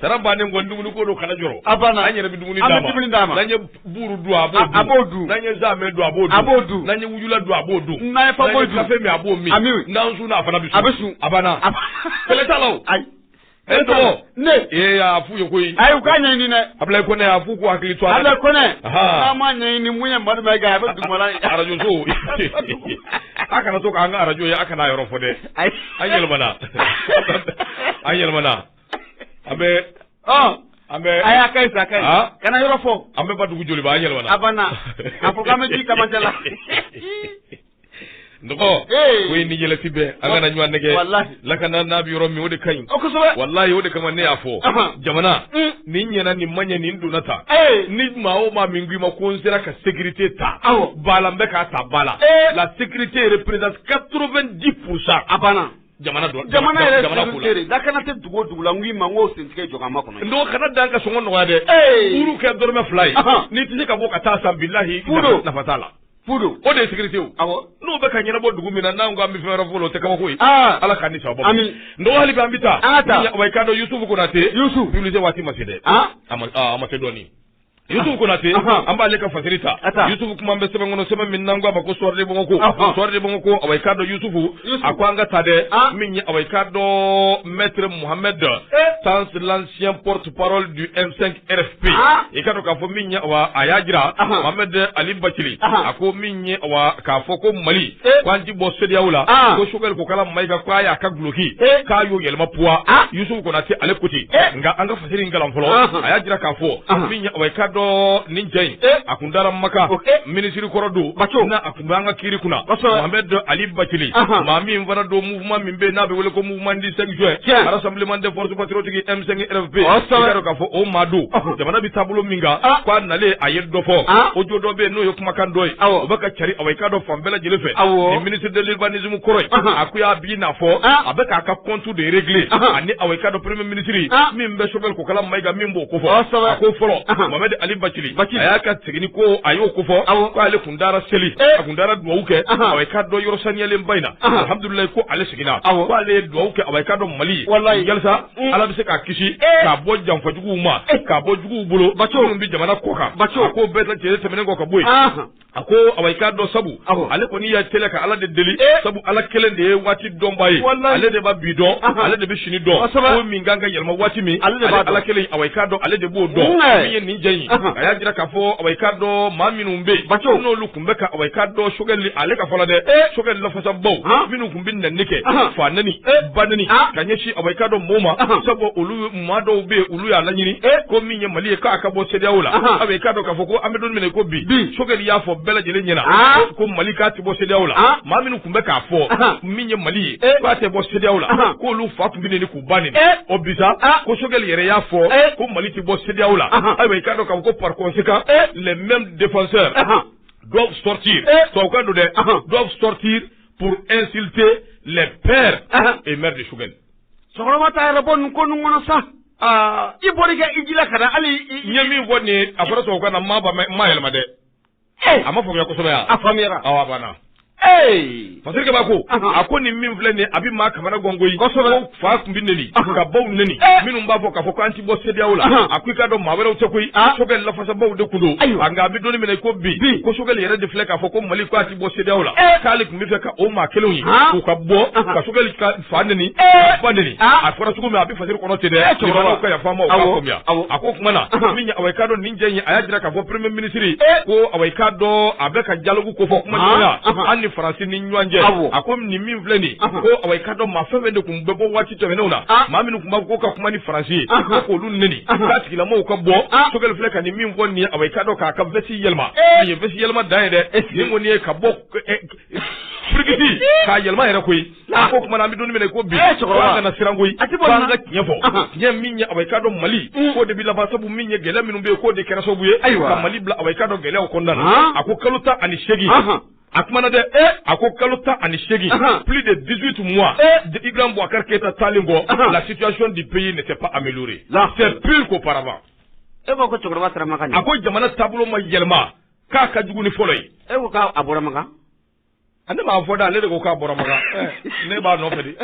sara bannen kɔ dumuni ko don kana jɔrɔ a banna an yɛrɛ bɛ dumuni d'a ma dumuni d'a ma n'an ye buuru dun a b'o dun a b'o dun n'an ye zamɛ dun a b'o dun a b'o dun n'an ye wujula dun a b'o dun n'an ye fako dun kafe min a b'o min a min n'an sunna a fana bɛ sun a bɛ sun a banna kɛlɛ t'a la o ayi e tɔgɔ ne ee a f'u ye koyi ayi u k'a ɲɛɲini dɛ abulayi kɔnɛ a f'u k'u hakili to a la abulayi kɔnɛ n'a ma ɲɛɲini mun ye madu mayiga bɛ dugumana arajo so a kana to k'an ka arajo ye a kana a yɔrɔ fɔ dɛ Ayi an yɛlɛmana an yɛlɛmana an bɛ an bɛ a y'a ka sa kana yɔrɔ fɔ an bɛ Badugu Joliba an yɛlɛ a banna a ko an bɛ ji kamajɛ la n ko ye ni yɛlɛti bɛɛ an kana ɲɔgɔn nɛgɛn lakana n'a bɛ yɔrɔ min o de ka ɲi walayi o de kama ne y'a fɔ jamana mm. ni ɲɛna ni man ɲɛ ni donna ta ni maa o maa min ko i ma ko n sera ka sécurité ta ba la n bɛ k'a ta ba la la sécurité yɛrɛ presque 80% a banna jamana don jamana yɛrɛ jamana ko la sécurité de lakana tɛ dugu o dugu la n k'i ma n k'o sentigɛ jɔ k'an makɔnɔ donc kana dan ka sɔngɔ nɔgɔya dɛ Ee! buuru kɛ dɔrɔmɛ fila ye Ahan. n'i tɛ se ka bɔ ka t'a san bilahi Fu don. nafa t'a la fu don o de ye sécurité ye o. awɔ n'o bɛ ka ɲɛnabɔ dugu min na n'an ko an bɛ fɛn wɛrɛ fɔ o la, o tɛ kabako ye aa ala k'an ni sababa Ami. n dɔgɔ hali bi an bɛ taa An ka taa. awa i k'a dɔn yusufu konate Yusufu. publicité waati ma se dɛ Ah. a ma a ma se dɔɔni Yusufu Konate Ahan. an b'ale ka fasiri ta A ta. Yusufu kuma bɛ sɛbɛn kɔnɔ sɛbɛn min n'an k'a ma ko Soir de Bamako Ahan. Soir de Bamako awa i k'a dɔn Yusufu Yusufu. a ko an ka ta dɛ Ah. min ye awa i k'a dɔn Maître Mohamed Eh. Tans l'ancien porte-parole du M5 RFP Ah. i k'a dɔn k'a fɔ min ye awa a y'a jira Ahan. Mohamed Ali Bathily Ahan. a ko min ye awa k'a fɔ ko Mali k'an ti bɔ CEDEAO la ko Choguel Kokalla Mayiga k'a y'a ka duloki k'a y'o yɛlɛma point Yusufu Konate ale ko ten nka an ka fasiri in kalan fɔlɔ a y'a jira k'a fɔ min o ye k'a dɔn nin cɛ in a kun dara Maka minisiri kɔrɔ don a kun bɛ an ka kiri kunna Mohamed Ali Bathily maa min fana don kuma min bɛ n'a bɛ wele ko mouvement du cinq juin rassemblement des forces patriotiques M5 RFP i k'a dɔn k'a fɔ o maa don jamana bɛ taabolo min kan k'a nalen a ye dɔ fɔ audio dɔ bɛ yen n'o ye kumakan dɔ ye o bɛ ka cari awa i k'a dɔn fan bɛɛ lajɛlen fɛ nin ministre de l'urbanisme kɔrɔ in a ko y'a bi n'a fɔ a bɛ k'a ka compte de régler ani awa i k'a dɔn premier ministre min bɛ Choguel Kokalla Maïga min b'o ko fɔ a ko fɔlɔ Mohamed Ali Bathily a y'a ka seginni ko a y'o ko fɔ k'ale kun taara seli a kun taara dugawu kɛ awa i k'a dɔn yɔrɔ saniyalen ba in na alhamdulilayi ko ale seginna ko ale ye dugawu kɛ awa i k'a dɔn mali ye walisa mm. ala bɛ se k'a kisi k'a bɔ janfajuguw ma k'a bɔ juguw bolo bacogo min bɛ jamana kɔ kan bacogo ko bɛɛ ta cɛ tɛmɛnen kɔ ka bɔ yen a ko awa i k'a dɔn sabu ale kɔni ka teli ka ala de deli sabu ala kelen de ye waati dɔnbaa ye ale de bɛ bi dɔn ale de bɛ sini dɔn ko min kan ka yɛlɛma waati min ale de b'a ala kelen awa i k'a dɔn ale de b'o dɔn min ye nin cɛ in a y'a jira k'a fɔ awa i k'a dɔn maa minnu bɛ yen bacow n'olu tun bɛ ka awa i k'a dɔn Choguel ale ka fɔ la dɛ Choguel lafasabaw minnu tun bɛ neni kɛ fa neni ba neni ka ɲɛsin awa i k'a dɔn maaw ma sabu olu maa dɔw bɛ yen olu y'a laɲini ko min ye mali ye k'a ka bɔ CEDEAO la awa i k'a dɔn k'a fɔ ko an bɛ don min na i ko bi Choguel y'a fɔ bɛɛ lajɛlen ɲɛna ko mali k'a tɛ bɔ CEDEAO la maa minnu tun bɛ k'a fɔ min ye mali ye k'a tɛ bɔ CEDEAO la k'olu fa tun bɛ neni k'u ba neni o bi sa ko Choguel yɛrɛ y'a fɔ ko mali tɛ bɔ CEDEAO la ayiwa i k'a dɔn k'a fɔ ko par conséquent les mêmes défenseurs doivent sortir tubabukan don dɛ doivent sortir pour insulter les pères et mères de Choguel. Cɛkɔrɔba t'a yɛrɛ bɔ nin ko nin kɔnɔ sa. Aa i bɔra i ka hiji la ka na hali i ye min fɔ nin ye a fɔra tubabukan na n m'a ba mɛn n m'a yɛlɛma dɛ. a ma faamuya kosɛbɛ yan a faamuyara aw bɛna a fasiri kabako a ko nin min filɛ nin ye a bɛ maa kamana gan koyi kosɛbɛ fa tun bɛ neni ka baw neni minnu b'a fɔ k'a fɔ k'an tɛ bɔ CEDEAO la a ko i k'a dɔn maa wɛrɛw tɛ koyi Choguel lafasabaw de tun don ayiwa nka an bɛ don min na i ko bi bi ko Choguel yɛrɛ de filɛ k'a fɔ ko Mali k'a tɛ bɔ CEDEAO la k'ale tun b'a fɛ ka o maa kelenw ye k'u ka bɔ ka Choguel ka fa neni eh! ba neni ah! a fɔra cogo min a bɛ fasiri kɔnɔ ten dɛ eh, cɛkɔrɔba ka yafa ma o k'a faamuya a ko kuma na min awa i k'a dɔn nin cɛ in a y'a jira k'a fɔ premier ministre eh! ko awa i k'a dɔn a bɛ ka dialogue ko fɔ kuma ɲɔgɔn ah! na mali ni faransi ni ɲɔgɔn cɛ a ko nin min filɛ nin ko awa i k'a dɔn maa fɛn fɛn de tun bɛ bɔ waati tɛmɛnenw na ah! maa minnu tun b'a fɔ ko ka kuma ni faransi ye ko k'olu neni k'a tigilamɔgɔw ka bɔ Choguel filɛ ka nin min fɔ nin ye awa i k'a dɔn k'a ka vɛsi yɛlɛma nin ye vɛsi yɛlɛma dan ye dɛ nin kɔni ye ka bɔ firigidi k'a yɛlɛma yɛrɛ koyi Laa. Ko kuma na an bɛ don min na i ko bi. Ee cɛkɔrɔba. Ko an kana siran koyi. A tɛ bɔ nin na. Ko an ka tiɲɛ fɔ. Ahan. Tiɲɛ min ye awa i k'a dɔn Mali. Un. K'o de bɛ laban sabu min ye gɛlɛya minnu bɛ yen k'o de kɛra sababu ye. Ayiwa. Ka Mali bila awa i k'a dɔn gɛlɛyaw kɔnɔna na. Haan. A ko kalo tan ani seegin. Ahan. A kumana dɛ. Ee. A ko kalo tan ani seegin. Ahan. Plus de 18 mois. Ee. De Ibrahim Boubacar Keita taalen kɔ. Ahan. La situation du pays n'était pas améliorée. Laa. C'est pire qu'auparavant. E ko ko cɛkɔrɔba taara Makan de. A ko jamana taabolo ma yɛlɛma k'a ka jugu ni fɔlɔ ye. E ko k'a a bɔra Makan. ani b'a fɔ da ale de ko k'a bɔra makan ne b'a nɔfɛ de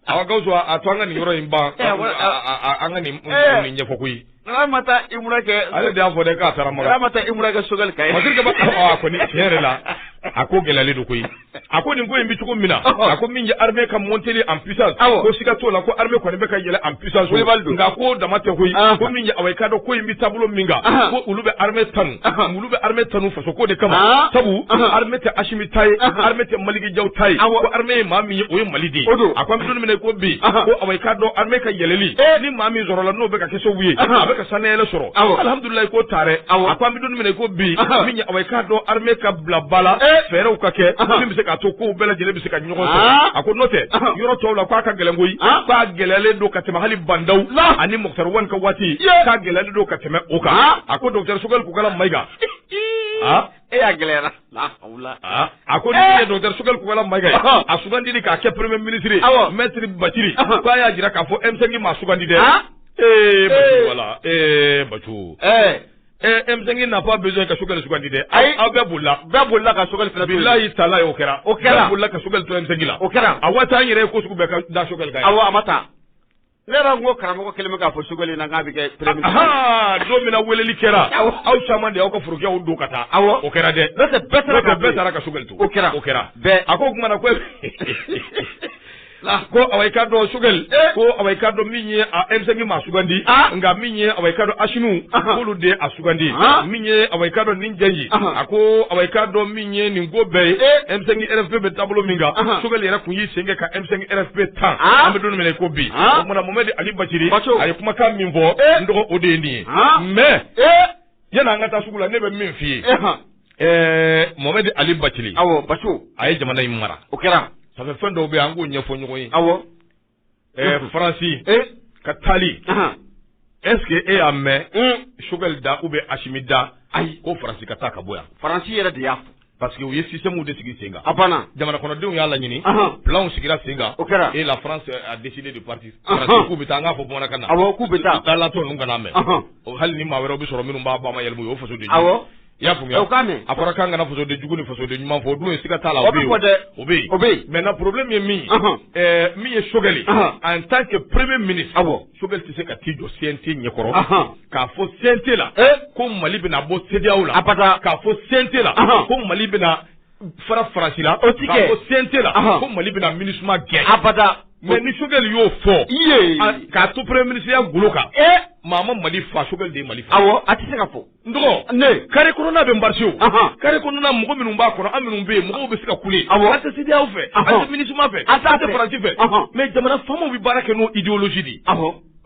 aw ka to a to an ka nin yɔrɔ in ban an ka nin ɲɛfɔ koyi ale ma taa umura kɛ ale de y'a fɔ dɛ k'a taara makan ale ma taa umura kɛ Choguel ka ye masiri kaba a kɔni tiɲɛ yɛrɛ la a ko gɛlɛyalen don koyi a ko nin ko in bɛ cogo min na a ko min ye armée ka monteli en puissance ko siga t'o la ko armée kɔni bɛ ka yɛlɛ en puissance nka k'o dama tɛ koyi ko min ye awa i k'a dɔn ko in bɛ taabolo min kan ko olu bɛ armée tanu olu bɛ armée tanu faso ko de kama, haa, sabu, anhan, armée tɛ Asimi ta ye, anhan, armée tɛ Maliki Jaw ta ye, awɔ, ko armée ye maa min ye o ye Mali de ye, o don, a ko an bɛ don min na i ko bi, anhan, ko awa i k'a dɔn armée ka yɛlɛli, ee, ni maa min sɔrɔla n'o bɛ ka kɛ sababu ye, anhan, a bɛ ka sanayɛlɛ sɔrɔ, awɔ, alhamdulilayi k'o ta dɛ, awɔ, a ko an bɛ don min na i ko bi, anhan, min ye awa i k'a dɔn armée ka bila ba la, ee, fɛɛrɛw ka kɛ, anhan, min bɛ se k'a to kow bɛɛ lajɛlen bɛ se ka a ko n'o tɛ yɔrɔ tɔw la k'a ka gɛlɛn koyi k'a gɛlɛyalen don ka tɛmɛ hali Ba Ndaw ani Moctar Ouane ka waati k'a gɛlɛyalen don ka tɛmɛ o kan a ko docteur Choguel Kokalla Maïga ee a gɛlɛyara a ko ne docteur Choguel Kokalla Maïga a sugandili k'a kɛ premier ministre maître Bathily k'a y'a jira k'a fɔ M5 m'a sugandi dɛ ee wala ee ba Ɛɛ M5 n'a pas besoin ka Choguel sugandi dɛ ayi aw bɛɛ bolila bɛɛ bolila ka Choguel fili bolola y'i ta la o kɛra o kɛra bolila ka Choguel to scène la o kɛra a waati an yɛrɛ ye ko sugu bɛɛ ka da Choguel kan a ma taa ne yɛrɛ n ko karamɔgɔ kelen k'a fɔ Choguel na k'a bɛ kɛ don min weleli kɛra aw caman de aw ka forokiyaw don ka taa aw o kɛra dɛ bɛɛ taara ka Choguel o kɛra o kɛra a ko o tuma na ko Ko awa i k'a dɔn Choguel ko awa i k'a dɔn min ye M5 m'a sugandi nka min ye awa i k'a dɔn Asimi olu de y'a sugandi min ye awa i k'a dɔn nin jɛji a ko awa i k'a dɔn min ye nin ko bɛɛ ye M5 RFP bɛ taabolo min kan Choguel yɛrɛ tun y'i sen kɛ ka M5 RFP tan an bɛ don min na i ko bi o tuma na Mohamed Ali Bathily a ye kumakan min fɔ n dɔgɔ o de ye nin ye mɛ yanni an ka taa sugu la ne bɛ min f'i ye Ɛɛ Mohamed Ali Bathily awɔ a ye jamana in mara o kɛra fa fɛn dɔw bɛ an k'u ɲɛfɔ ɲɔgɔn ye awɔ faransi ka taali est-ce que e y'a mɛn Choguel da ou bien asimi da ayi ko faransi ka taa ka bɔ yan faransi yɛrɛ de y'a parce que u ye simu de sigi sen a banna jamanadenw y'a laɲini filaw sigira sen o kɛra elle a décidé de partir k'u bɛ taa n'a pas besoin ka na k'u bɛ taa taa latɔ ninnu ka mɛn o hali ni maa wɛrɛ bɛ sɔrɔ minnu b'a ba ma yɛlɛma o faso de I y'a faamuya o k'a mɛn a fɔra k'an kana fasoden jugu ni fasoden ɲuman fɔ o dun ye siga t'a la o bɛ yen o bɛ yen o bɛ yen maintenant problème ye min ye min ye Choguel ye en tant que premier ministre awɔ Choguel tɛ se ka t'i jɔ CNT ɲɛkɔrɔ k'a fɔ CNT la ko Mali bɛna bɔ CEDEAO la abada k'a fɔ CNT la ko Mali bɛna fara Faransi la o tɛ kɛ k'a fɔ CNT la ko Mali bɛna Minusma gɛn abada mɛ ni Choguel y'o fɔ i ye k'a to premier ministre ya golo kan maa ma Mali fa Choguel de ye Mali fa awɔ a tɛ se ka fɔ N dɔgɔ ne carré kɔnɔna bɛ basi carré kɔnɔna mɔgɔ minnu b'a kɔnɔ an minnu bɛ yen mɔgɔw bɛ se ka kule an tɛ CEDEAO fɛ an tɛ MINUSMA fɛ an tɛ Faransi fɛ mais jamana faamaw bɛ baara kɛ n'o idéologie de ye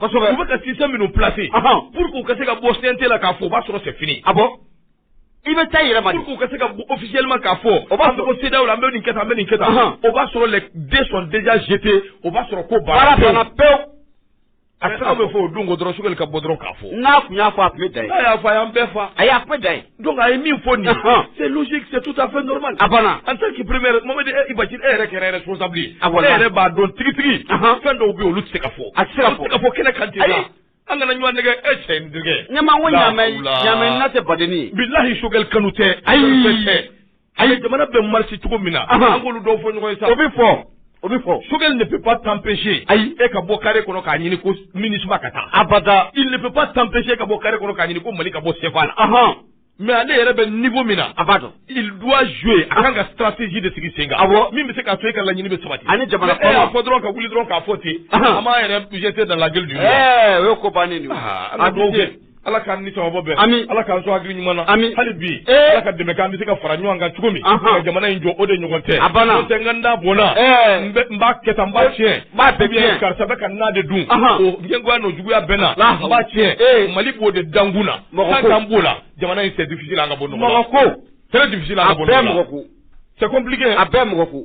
kosɛbɛ u bɛ ka si minnu placer pour que u ka se ka bɔ sente la k'a fɔ o b'a sɔrɔ c'est fini a bɔ i bɛ taa yɛlɛma k'u ka se ka officiellement k'a fɔ o b'a sɔrɔ CEDEAO bɛ nin kɛ bɛ nin kɛ o b'a sɔrɔ les dés sont déjà jetés o b'a sɔrɔ ko baara pe A bɛ fɔ o don dɔrɔn Choguel ka bɔ dɔrɔn k'a fɔ n'a tun y'a fɔ a tun bɛ da n'a y'a fɔ a y'a bɛɛ fɔ a y'a bɛɛ da donc a ye min fɔ nin c'est tout à fait normal a banna en tant que premier mama e basi e yɛrɛ kɛra responsable a yɛrɛ b'a dɔn tigitigi fɛn dɔw bɛ olu tɛ se ka fɔ a sera fɔ ka fɔ kɛnɛ kan an kana ɲɔgɔn nɛgɛn e cɛ ɲa tɛ baden bilahi Choguel kanu tɛ ayi A ye jamana bɛ marcher cogo min na an ka olu dɔw fɔ ɲɔgɔn ye sa o bɛ fɔ o bɛ fɔ Choguel ne peut pas t'empêcher ayi e ka bɔ carré kɔnɔ k'a ɲini ko MINUSMA ka taa il ne peut pas t'empêcher ka bɔ carré kɔnɔ k'a ɲini ko Mali ka bɔ CFA la mais ale yɛrɛ bɛ niveau min na il doit jouer a ka kan ka stratégie de sigi sen bɔ min bɛ se ka to e ka laɲini bɛ sabati ani jamana fɔ dɔrɔn ka wuli dɔrɔn k'a fɔ ten a' yɛrɛ jeter dans la gueule o ye ko bannen Ala k'an ni sawaba bɛn ami Ala k'an sɔn hakili ɲuman na ami hali bi ee Ala ka dɛmɛ kɛ an bɛ se ka fara ɲɔgɔn kan cogo min anhan ka jamana in jɔ o de ɲɔgɔn tɛ a banna n'o tɛ n ka n da bɔnna ɛɛ n bɛ n b'a kɛ tan n b'a tiɲɛ n b'a bɛɛ tiɲɛ karisa bɛ ka na de dun anhan o ɲɛgoya n'o juguya bɛɛ na n b'a tiɲɛ ee Mali b'o de dankun na mɔgɔ ko k'an b'o la jamana in c'est difficile an ka bɔ nɔgɔ la mɔgɔ ko très difficile an ka bɔ nɔgɔ la a bɛɛ mɔgɔ ko c'est compliqué a bɛɛ mɔgɔ ko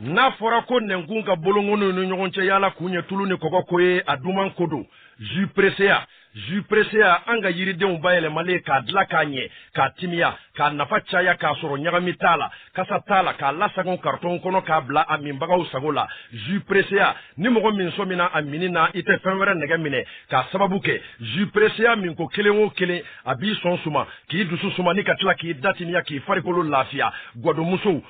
n'a fɔra ko nɛnkun ka bolonkoninw ni ɲɔgɔn cɛ yala kun ye tulu ni kɔgɔ ko ye a duman ko don jus presea jus presea an ka yiridenw bayɛlɛmalen k'a dila k'a ɲɛ k'a timiya k'a nafa caya k'a sɔrɔ ɲagami t'a la kasa t'a la k'a lasagon karitɔn kɔnɔ k'a bila a minbagaw sago la jus presea ni mɔgɔ min sɔmina a minni na i tɛ fɛn wɛrɛ nɛgɛ minɛ k'a sababu kɛ jus presea min ko kelen o kelen a b'i sɔn suma k'i dusu suma ni ka tila k'i da timiya k'i farikolo lafiya gwadonmusow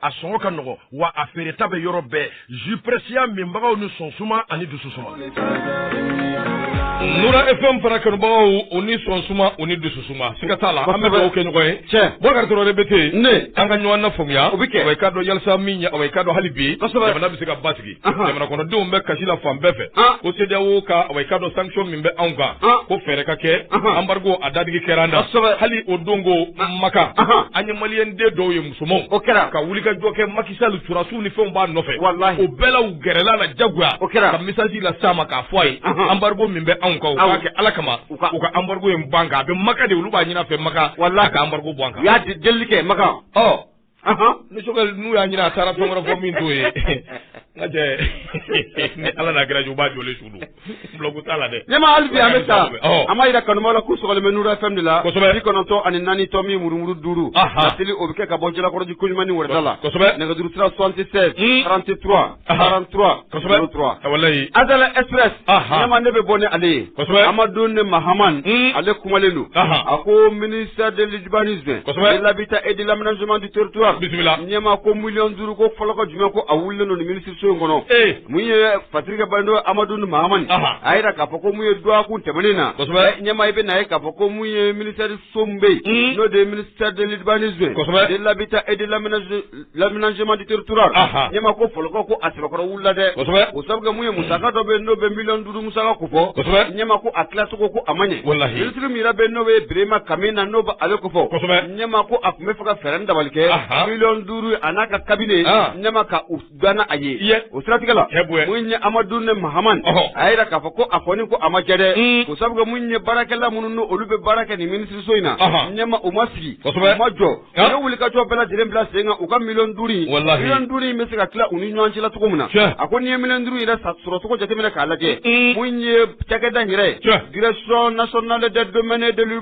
a sɔngɔ ka nɔgɔ wa a feereta bɛ yɔrɔ bɛɛ jus presea minbagaw ni sɔn suma ani dusu suma nura fm fana kanubagaw u ni sɔn suma u ni dusu suma siga t'a la an bɛ dugawu kɛ ɲɔgɔn ye tiɲɛ Bɔkari Traoré bɛ ten ne an ka ɲɔgɔn na faamuya o bɛ kɛ wa i k'a dɔn hali sa min ɲɛ wa i k'a dɔn hali bi jamana bɛ se ka basigi jamana kɔnɔdenw bɛ kasi la fan bɛɛ fɛ ko CEDEAO ka wa i k'a dɔn sanction min bɛ anw kan ko fɛɛrɛ ka kɛ embargo a dadigi kɛra an na hali o don ko Makan an ye maliyɛnden dɔw ye musomanw o kɛra ka wuli ka jɔ kɛ Macky Sall sɔrɔdasiw ni fɛnw b'a nɔfɛ walahi o bɛɛ la u gɛrɛla a la jagoya o kɛra ka message las'a ma k'a fɔ a ye embargo min bɛ anw kan u k'a kɛ ala kama u ka embargo in bɔ an kan a bɛ maka de olu b'a ɲin'a fɛ maka walahi ka embargo bɔ an kan u y'a delili kɛ maka ɔ ni Choguel n'u y'a ɲini a taara fɛn wɛrɛ fɔ min t'o ye n ka cɛ ni ala n'a kira cɛ u b'a jɔlen su don Blague t'a la dɛ. Ɲɛmaa hali bi an bɛ taa. Ɔhɔ. An b'a jira kanubaaw la k'u sɔgɔlen bɛ Nuru FM de la. Kosɛbɛ. Bi kɔnɔntɔn ani naani tɔmi murumuru duuru. Ahan. Laseli o bɛ kɛ ka bɔ Jalakɔrɔji Koɲumani Wɛrɛda la. Kosɛbɛ. Nɛgɛjuru sira 76. Un. 33. Ahan. 43. Kosɛbɛ. 03. A walayi. Azalaï Express. Ahan. Ɲɛmaa ne bɛ bɔ ni ale ye. Kosɛbɛ. Amadu ne Mahaman. Un. Ale kumalen don. Ahan. A ko ministère de l'urbanisme. Kosɛbɛ. Et l'habitat et de l'aménagement du territoire. Bisimila. Ɲɛmaa ko miliyɔn duuru ko fɔlɔkɔ juguman ko a wulilen don nin ministre so in kɔnɔ ee mun ye fatirikɛ bando amadu ni mahamani a y'a jira k'a fɔ ko mun ye dɔgɔkun tɛmɛnen na kosɛbɛ ɲɛmaa i bɛ na ye k'a fɔ ko mun ye minisiriso min bɛ yen n'o de ye ministère de l'urbanisme kosɛbɛ de l'habitat et de l'aménagement du territoire ɲɛmaa ko fɔlɔkɔ ko a sɛbɛkɔrɔ wulila dɛ kosɛbɛ o sabu mun ye musaka dɔ bɛ yen n'o bɛ miliyɔn duuru musaka ko fɔ kosɛbɛ ɲɛmaa ko a tilacogo ko a ma ɲɛ walahi minisiri min yɛrɛ bɛ n'o bɛ birema kamena n'o bɛ ale ko fɔ kosɛbɛ ɲɛmaa ko a tun bɛ fɛ ka fɛɛrɛ ni dabali kɛ miliyɔn duuru a n'a ka kabinɛ ɲɛma ka u dan a ye o siratigɛ la mun ye amadu ne mahaman a y'a jira k'a fɔ ko a fɔ ko a ma jɛ dɛ o sabu mun ye baarakɛla minnu n'olu bɛ baara kɛ nin minisiriso in na ɲɛma u ma sigi u ma jɔ u ye wulikajɔ bɛɛ lajɛlen bila sen kan u ka miliyɔn duuru miliyɔn duuru in bɛ se ka tila u ni ɲɔgɔn cɛla cogo min na a ko n'i ye miliyɔn duuru yɛrɛ sɔrɔcogo jateminɛ k'a lajɛ mun ye cakɛda yɛrɛ ye gsi na sɔn n'ale dɛ don deli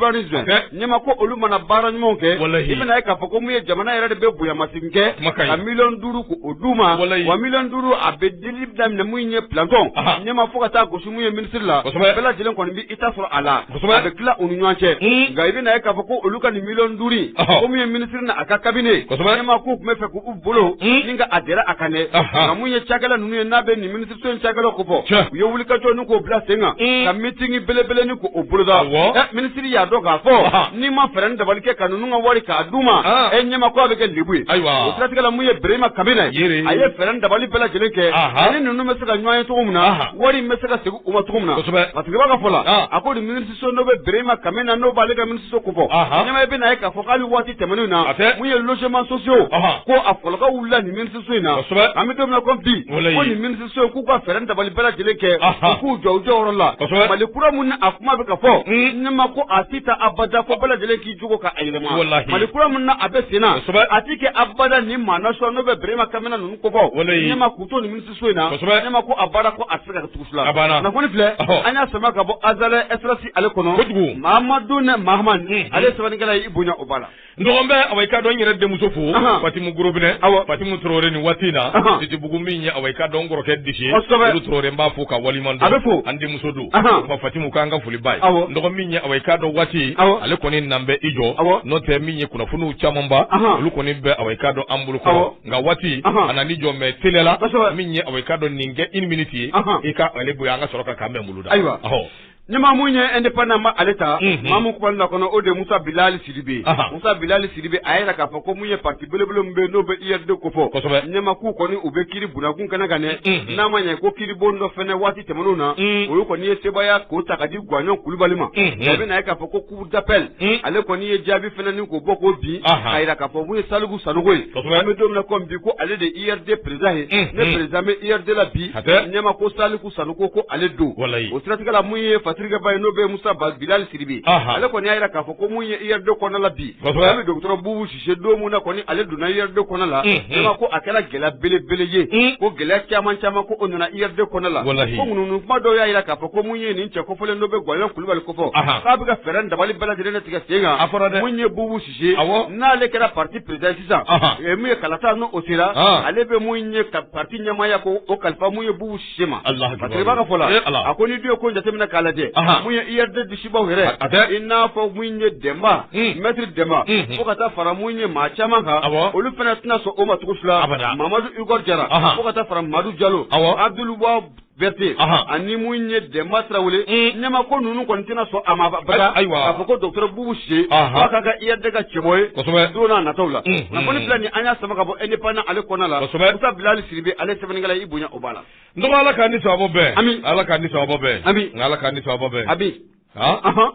Ɲɛma ko olu mana baara ɲumanw kɛ, walahi, i bɛna ye k'a fɔ ko mun ye jamana yɛrɛ de bɛ bonyamasegin kɛ, kuma ka ɲi, ka miliyɔn duuru ko o d'u ma, walahi, wa miliyɔn duuru a bɛ dili daminɛ mun ye planton, anhan, ɲɛma fo ka taa gosi mun ye ministre la, kosɛbɛ, bɛɛ lajɛlen kɔni bɛ i ta sɔrɔ a la, kosɛbɛ, a bɛ tila u ni ɲɔgɔn cɛ, un, nka i bɛna ye k'a fɔ ko olu ka nin miliyɔn duuru in, ɔhɔ, ko mun ye ministre n'a ka cabinet, kosɛbɛ, ɲɛma k'u tun bɛ fɛ k'u bolo, un, ni ka a dɛrɛ a kan dɛ, anhan, nka mun ye cakɛla ninnu ye n'a bɛ nin ministre cakɛlaw ko fɔ, tiɲɛ, u ye wulikajɔ ni k'o bila sen kan, un, ka meeting belebele ni k'o boloda, awɔ, ɛ minisiri y'a dɔn k'a fɔ, Aha. n'i ma fɛɛrɛ ni dabali kɛ ka ninnu ka wari k'a d'u ma, Ah. ɛ ɲɛma ko a bɛ kɛ lebu ye, Ayiwa. o siratigɛ la mun ye Birahima Kamena, Yere. a ye fɛɛrɛ ni dabali bɛɛ lajɛlen kɛ, Aha. ani ninnu bɛ se ka ɲɔgɔn ye cogo min na, Aha. wari in bɛ se ka segin u ma cogo min na, Kosɛbɛ. Matigɛba ka fɔ la, Ah. a ko nin minisiriso n'o bɛ Birahima Kamena n'o b'ale ka minisiriso ko fɔ, Aha. ɲɛma i bɛ na ye k'a fɔ k'ale waati tɛmɛnenw na, A tɛ. mun ye logements sociaux, Aha. ko a kɔlɔlɔ wulila nin minisiriso so in na kosɛbɛ an bɛ don min na ko bi Walayi. ko nin minisiriso in k'u ka fɛɛrɛ dabali bɛɛ lajɛlen kɛ Aha. u k'u jɔ u jɔyɔrɔ la Kosɛbɛ. mali kura mun ni a kuma bɛ ka fɔ Mm. ɲɛma ko a ti taa abada ko bɛɛ lajɛlen k'i jogo ka a yɛlɛma Walahi. mali kura mun na a bɛ sen na Kosɛbɛ. a ti kɛ abada ni maa nasɔn n'o bɛ berema kamena ninnu ko fɔ Walayi. ɲɛma k'u to nin minisiriso in na Kosɛbɛ. ɲɛma ko a baara ko a ti se ka kɛ tugu fila A banna. kunnafoni filɛ Ɔhɔ. an y'a sama ka bɔ azalaï express ale kɔnɔ Kojugu. mahamadu ne mahamani Mm. ale ye sɛbɛnnikɛla ye i bonya o b'a la N dɔgɔnin bɛ awa i k'a dɔn n yɛrɛ denmuso fo, anhan, Fatimu Gorobinɛ, awɔ, Fatimu Tarawele nin waati in na, anhan, Sitibugu min ye awa i k'a dɔn n kɔrɔkɛ disi ye, kosɛbɛ, Umu Tarawele n b'a fo k'a waleɲuman dɔn, a bɛ fo, an denmuso don, anhan, wa Fatimu k'an ka foli b'a ye, awɔ, n dɔgɔnin min ye awa i k'a dɔn waati in, awɔ, ale kɔni nan bɛ i jɔ, awɔ, n'o tɛ min ye kunnafoniw camanba, anhan, olu kɔni bɛ awa i k'a dɔn an bolo kɔrɔ, awɔ, nka waati, anhan, a nana i jɔ mais teliya la, kosɛbɛ, min ye awa i k'a dɔn nin kɛ une minute ye, anhan, i ka ale bonya an ka sɔrɔ ka kan bɛ Muluda, ayiwa, ɔhɔ. Ɲɛma mun ye indépendant ba ale ta mamu kumalen na kɔnɔ o de musa bilali siribe musa bilali siribe a y'a yira k'a fɔ ko mun ye parti belebele min bɛ yen n'o bɛ URD ko fɔ ɲɛma k'u kɔni u bɛ kiribon kun kɛnɛ kan ne n'a ma ɲɛ ko kiribon dɔ fana waati tɛmɛnenw na olu kɔni ye sebaaya ko ta ka di gwaɲɔn kulubali ma bɛna k'a fɔ ko cour d'appel ale kɔni ye jaabi filanan ko bɔ ko bi a jira k'a fɔ ko mun ye saliku sanogo ye an bɛ don min na comme bi ko ale de URD président ye ni président bɛ URD la bi ɲɛma ko saliku sanogo ko ale don o siratigɛ la mun ye fasirikɛbaa ye n'o bɛ musa bilali siribe ale kɔni y'a jira k'a fɔ ko mun ye URD kɔnɔna la bi bɛ dɔgɔtɔrɔ bubu Sise don min na kɔni ale donna URD kɔnɔ la, unhun, vraiment ko a kɛra gɛlɛya belebele ye, un, ko gɛlɛya caman caman ko o nana URD kɔnɔ la, walahi, ko ŋunuŋunu kuma dɔw y'a jira k'a fɔ ko mun ye nin cɛ kofɔlen dɔ bɛ Gwaɲɔn Kulubali kɔfɛ, Ahan. k'a bɛ ka fɛɛrɛ ni dabali bɛɛ lajɛlen de tigɛ sen kan, A fɔra dɛ. mun ye Bubu Sise ye, awɔ, n'ale kɛra parti président ye sisan, Ahan. eh, mun ye kalata n'o o sera, An. ale bɛ mun ye ka parti ɲɛmaaya ko o kalifa mun ye Bubu Sise ma Alahu akibaru. Matigi b'a ka fɔ la Ee Ala. a ko ni dɔ ye ko jateminɛ k'a lajɛ Ahan. mun ye URD disibaw yɛrɛ A- a bɛɛ. i n'a fɔ mun ye Dɛnba Mm. mɛtiri Dɛnba Mhm. fo ka taa fara mun ye maa caman kan Awɔ. olu fana tɛna sɔn o ma cogo si la Abada. Mamadu Igor Jara Ahan. fo ka taa fara Madu Jalo Awɔ. Abdul Wahab Bɛrite Ahan. ani mun ye Dɛnba Tarawele Mm. ɲɛma ko ninnu kɔni tɛna sɔn a ma abada Ay- ayiwa. k'a fɔ ko dɔgɔtɔrɔ Bubu Sise Ahan. fo a ka kɛ URD ka cɛbɔ ye Kosɛbɛ. don nataw la Mhm. kunnafoni fila nin an y'a sama ka bɔ indépendant ale kɔnɔna la Kosɛbɛ. Musa Bilali Siribe ale sɛbɛnnikɛla i bonya O b'a la n dɔgɔ ala k'an ni sawaba bɛn Ami. ala k'an ni sawaba bɛn Ami. nka ala k'an ni sawaba bɛn Ami. han Ahan.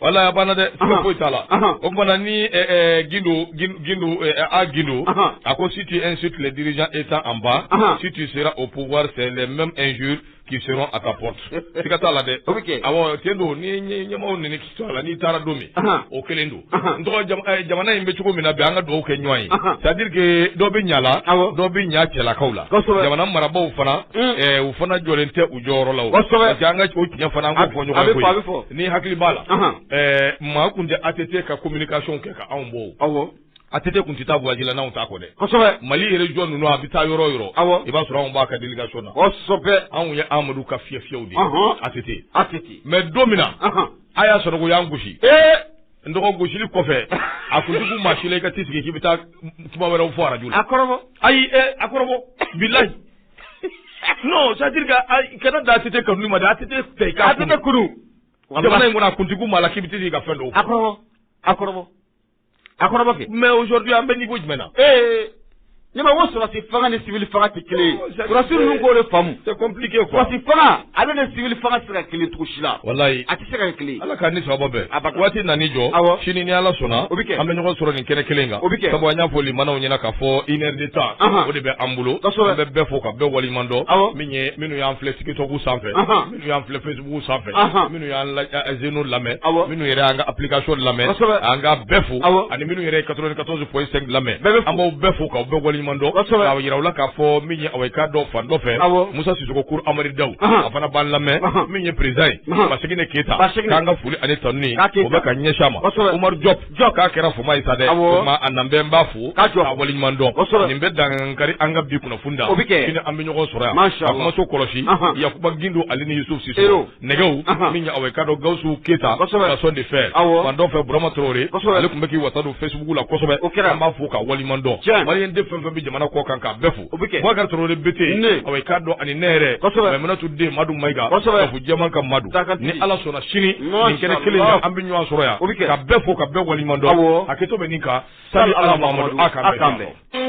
walahi a banna dɛ Ahan. siga foyi t'a la Ahan. o tuma na ni ɛ, ɛ, gindo Gin- gindo ɛ, ɛ, a gindo Ahan. a ko si tu insultes les dirigeants étant en bas Ahan. si tu seras au pouvoir c'est les mêmes injures qui seront à ta porte siga t'a la dɛ O bɛ kɛ. awɔ tiɲɛ don ni ɲɛ- ɲɛmɔgɔw neni n'i taara don min o kelen don eh, jamana in bɛ cogo min na bi an ka dugawu kɛ ɲɔgɔn ye c'est-à-dire que dɔ bɛ ɲala dɔ bɛ ɲa cɛlakaw la jamana marabaw fana mm. eh, u fana jɔlen tɛ u jɔyɔrɔ la parce que an ka o tiɲɛ fana an k'o fɔ ɲɔgɔn ye n'i hakili b'a la eh, maa kun tɛ ATT ka communication kɛ k'anw bɔ o. ATT kun tɛ taa voyage la n'anw t'a kɔ dɛ kosɛbɛ mali région ninnu a bɛ taa yɔrɔ o yɔrɔ i b'a sɔrɔ anw b'a ka délégation na kosɛbɛ anw ye amadu ka fiyɛ fiyɛw de ATT mais don min na a y'a sɔrɔ k'u y'an gosi n dɔgɔ gosili kɔfɛ a kun tɛ kun maa si la ka t'i sigi k'i bɛ taa kuma wɛrɛw fɔ arajo la kɔ ayi a kɔrɔbɔ bilayi non c'est-à-dire que a da ATT kama a tɛ fɛ k'a tɛ kuru jamana in kɔnɔ a kun tɛ kun maa la k'i bɛ tɛ ka fɛn don a a A kɔrɔba kɛ mais aujourd'hui an bɛ niveau jumɛn na? Ee ne b'a ye ko sɔrɔdasi fanga ni civil fanga tɛ kelen ye, sɔrɔdasi ninnu k'o de faamu, c'est compliqué quoi, sɔrɔdasi fanga ale ni civil fanga tɛ se ka kɛ kelen ye cogo si la, walayi, a tɛ se ka kɛ kelen ye, Ala k'an ni sababa bɛn, abada, waati nan'i jɔ, awɔ, sini ni Ala sɔnna, o bɛ kɛ, an bɛ ɲɔgɔn sɔrɔ nin kɛnɛ kelen in kan, o bɛ kɛ, sabu an y'a fɔ limanaw ɲɛna k'a fɔ une heure de temps o de bɛ an bolo, kosɛbɛ, an bɛ bɛɛ fo ka bɛɛ waleɲuman dɔn, awɔ, min ye minnu y'an filɛ tiktok sanfɛ, anhan Minnu y'an filɛ Facebook sanfɛ, anhan, minnu y'an la zeno lamɛn, awɔ, minnu yɛrɛ y'an ka application lamɛn, kosɛbɛ, an ka bɛɛ fo, awɔ, ani minnu yɛrɛ ye 94.5 lamɛn, bɛɛ bɛ fo, an b'aw bɛɛ fo k'aw bɛɛ waleɲuman dɔn, kosɛbɛ, k'a jira u la k'a fɔ min ye awa i k'a dɔn fan dɔ fɛ, awɔ, Musa Sisoko Kuru Amari Dawu, anhan, a fana b'an lamɛn, anhan, min ye président ye, anhan, Baseginɛ Keyita, Baseginɛ, k'an ka foli ani tanuni, k'a Keyita, o bɛ ka ɲɛsin a ma, kosɛbɛ, Umaru Jɔpu jɔ k'a kɛra fama ye sa dɛ a na bɛ n b'a fo ka jɔ a wale ɲuman dɔn nin bɛ dan kari an ka bi kunnafoni da o bɛ kɛ an bɛ ɲɔgɔn sɔrɔ yan kumaso kɔlɔsi yakuba gindo ale ni yusufu siso nɛgɛw minɛna awa i k'a dɔn gawusu keyita gasɔn de fɛ fan dɔ fɛ burama tarawele ale tun bɛ k'i wasa don facebook la kosɛbɛ o kɛra an b'a fo k'a wale ɲuman dɔn maliden fɛn fɛn bɛ jamana kɔ kan ka bɛɛ fo o bɛ kɛ Boubacar Traoré BT ne awa i k'a dɔn ani ne yɛrɛ kosɛbɛ Maimunatu den Madu Mayiga kosɛbɛ Kafo jamana ka Madu ni Ala sɔnna sini nin kɛnɛ kelen in kan an bɛ ɲɔgɔn sɔrɔ yan o bɛ kɛ ka bɛɛ fo ka bɛɛ waleɲuman dɔn awɔ hakɛto bɛ nin kan sali Ala Mahamadu a k'an bɛn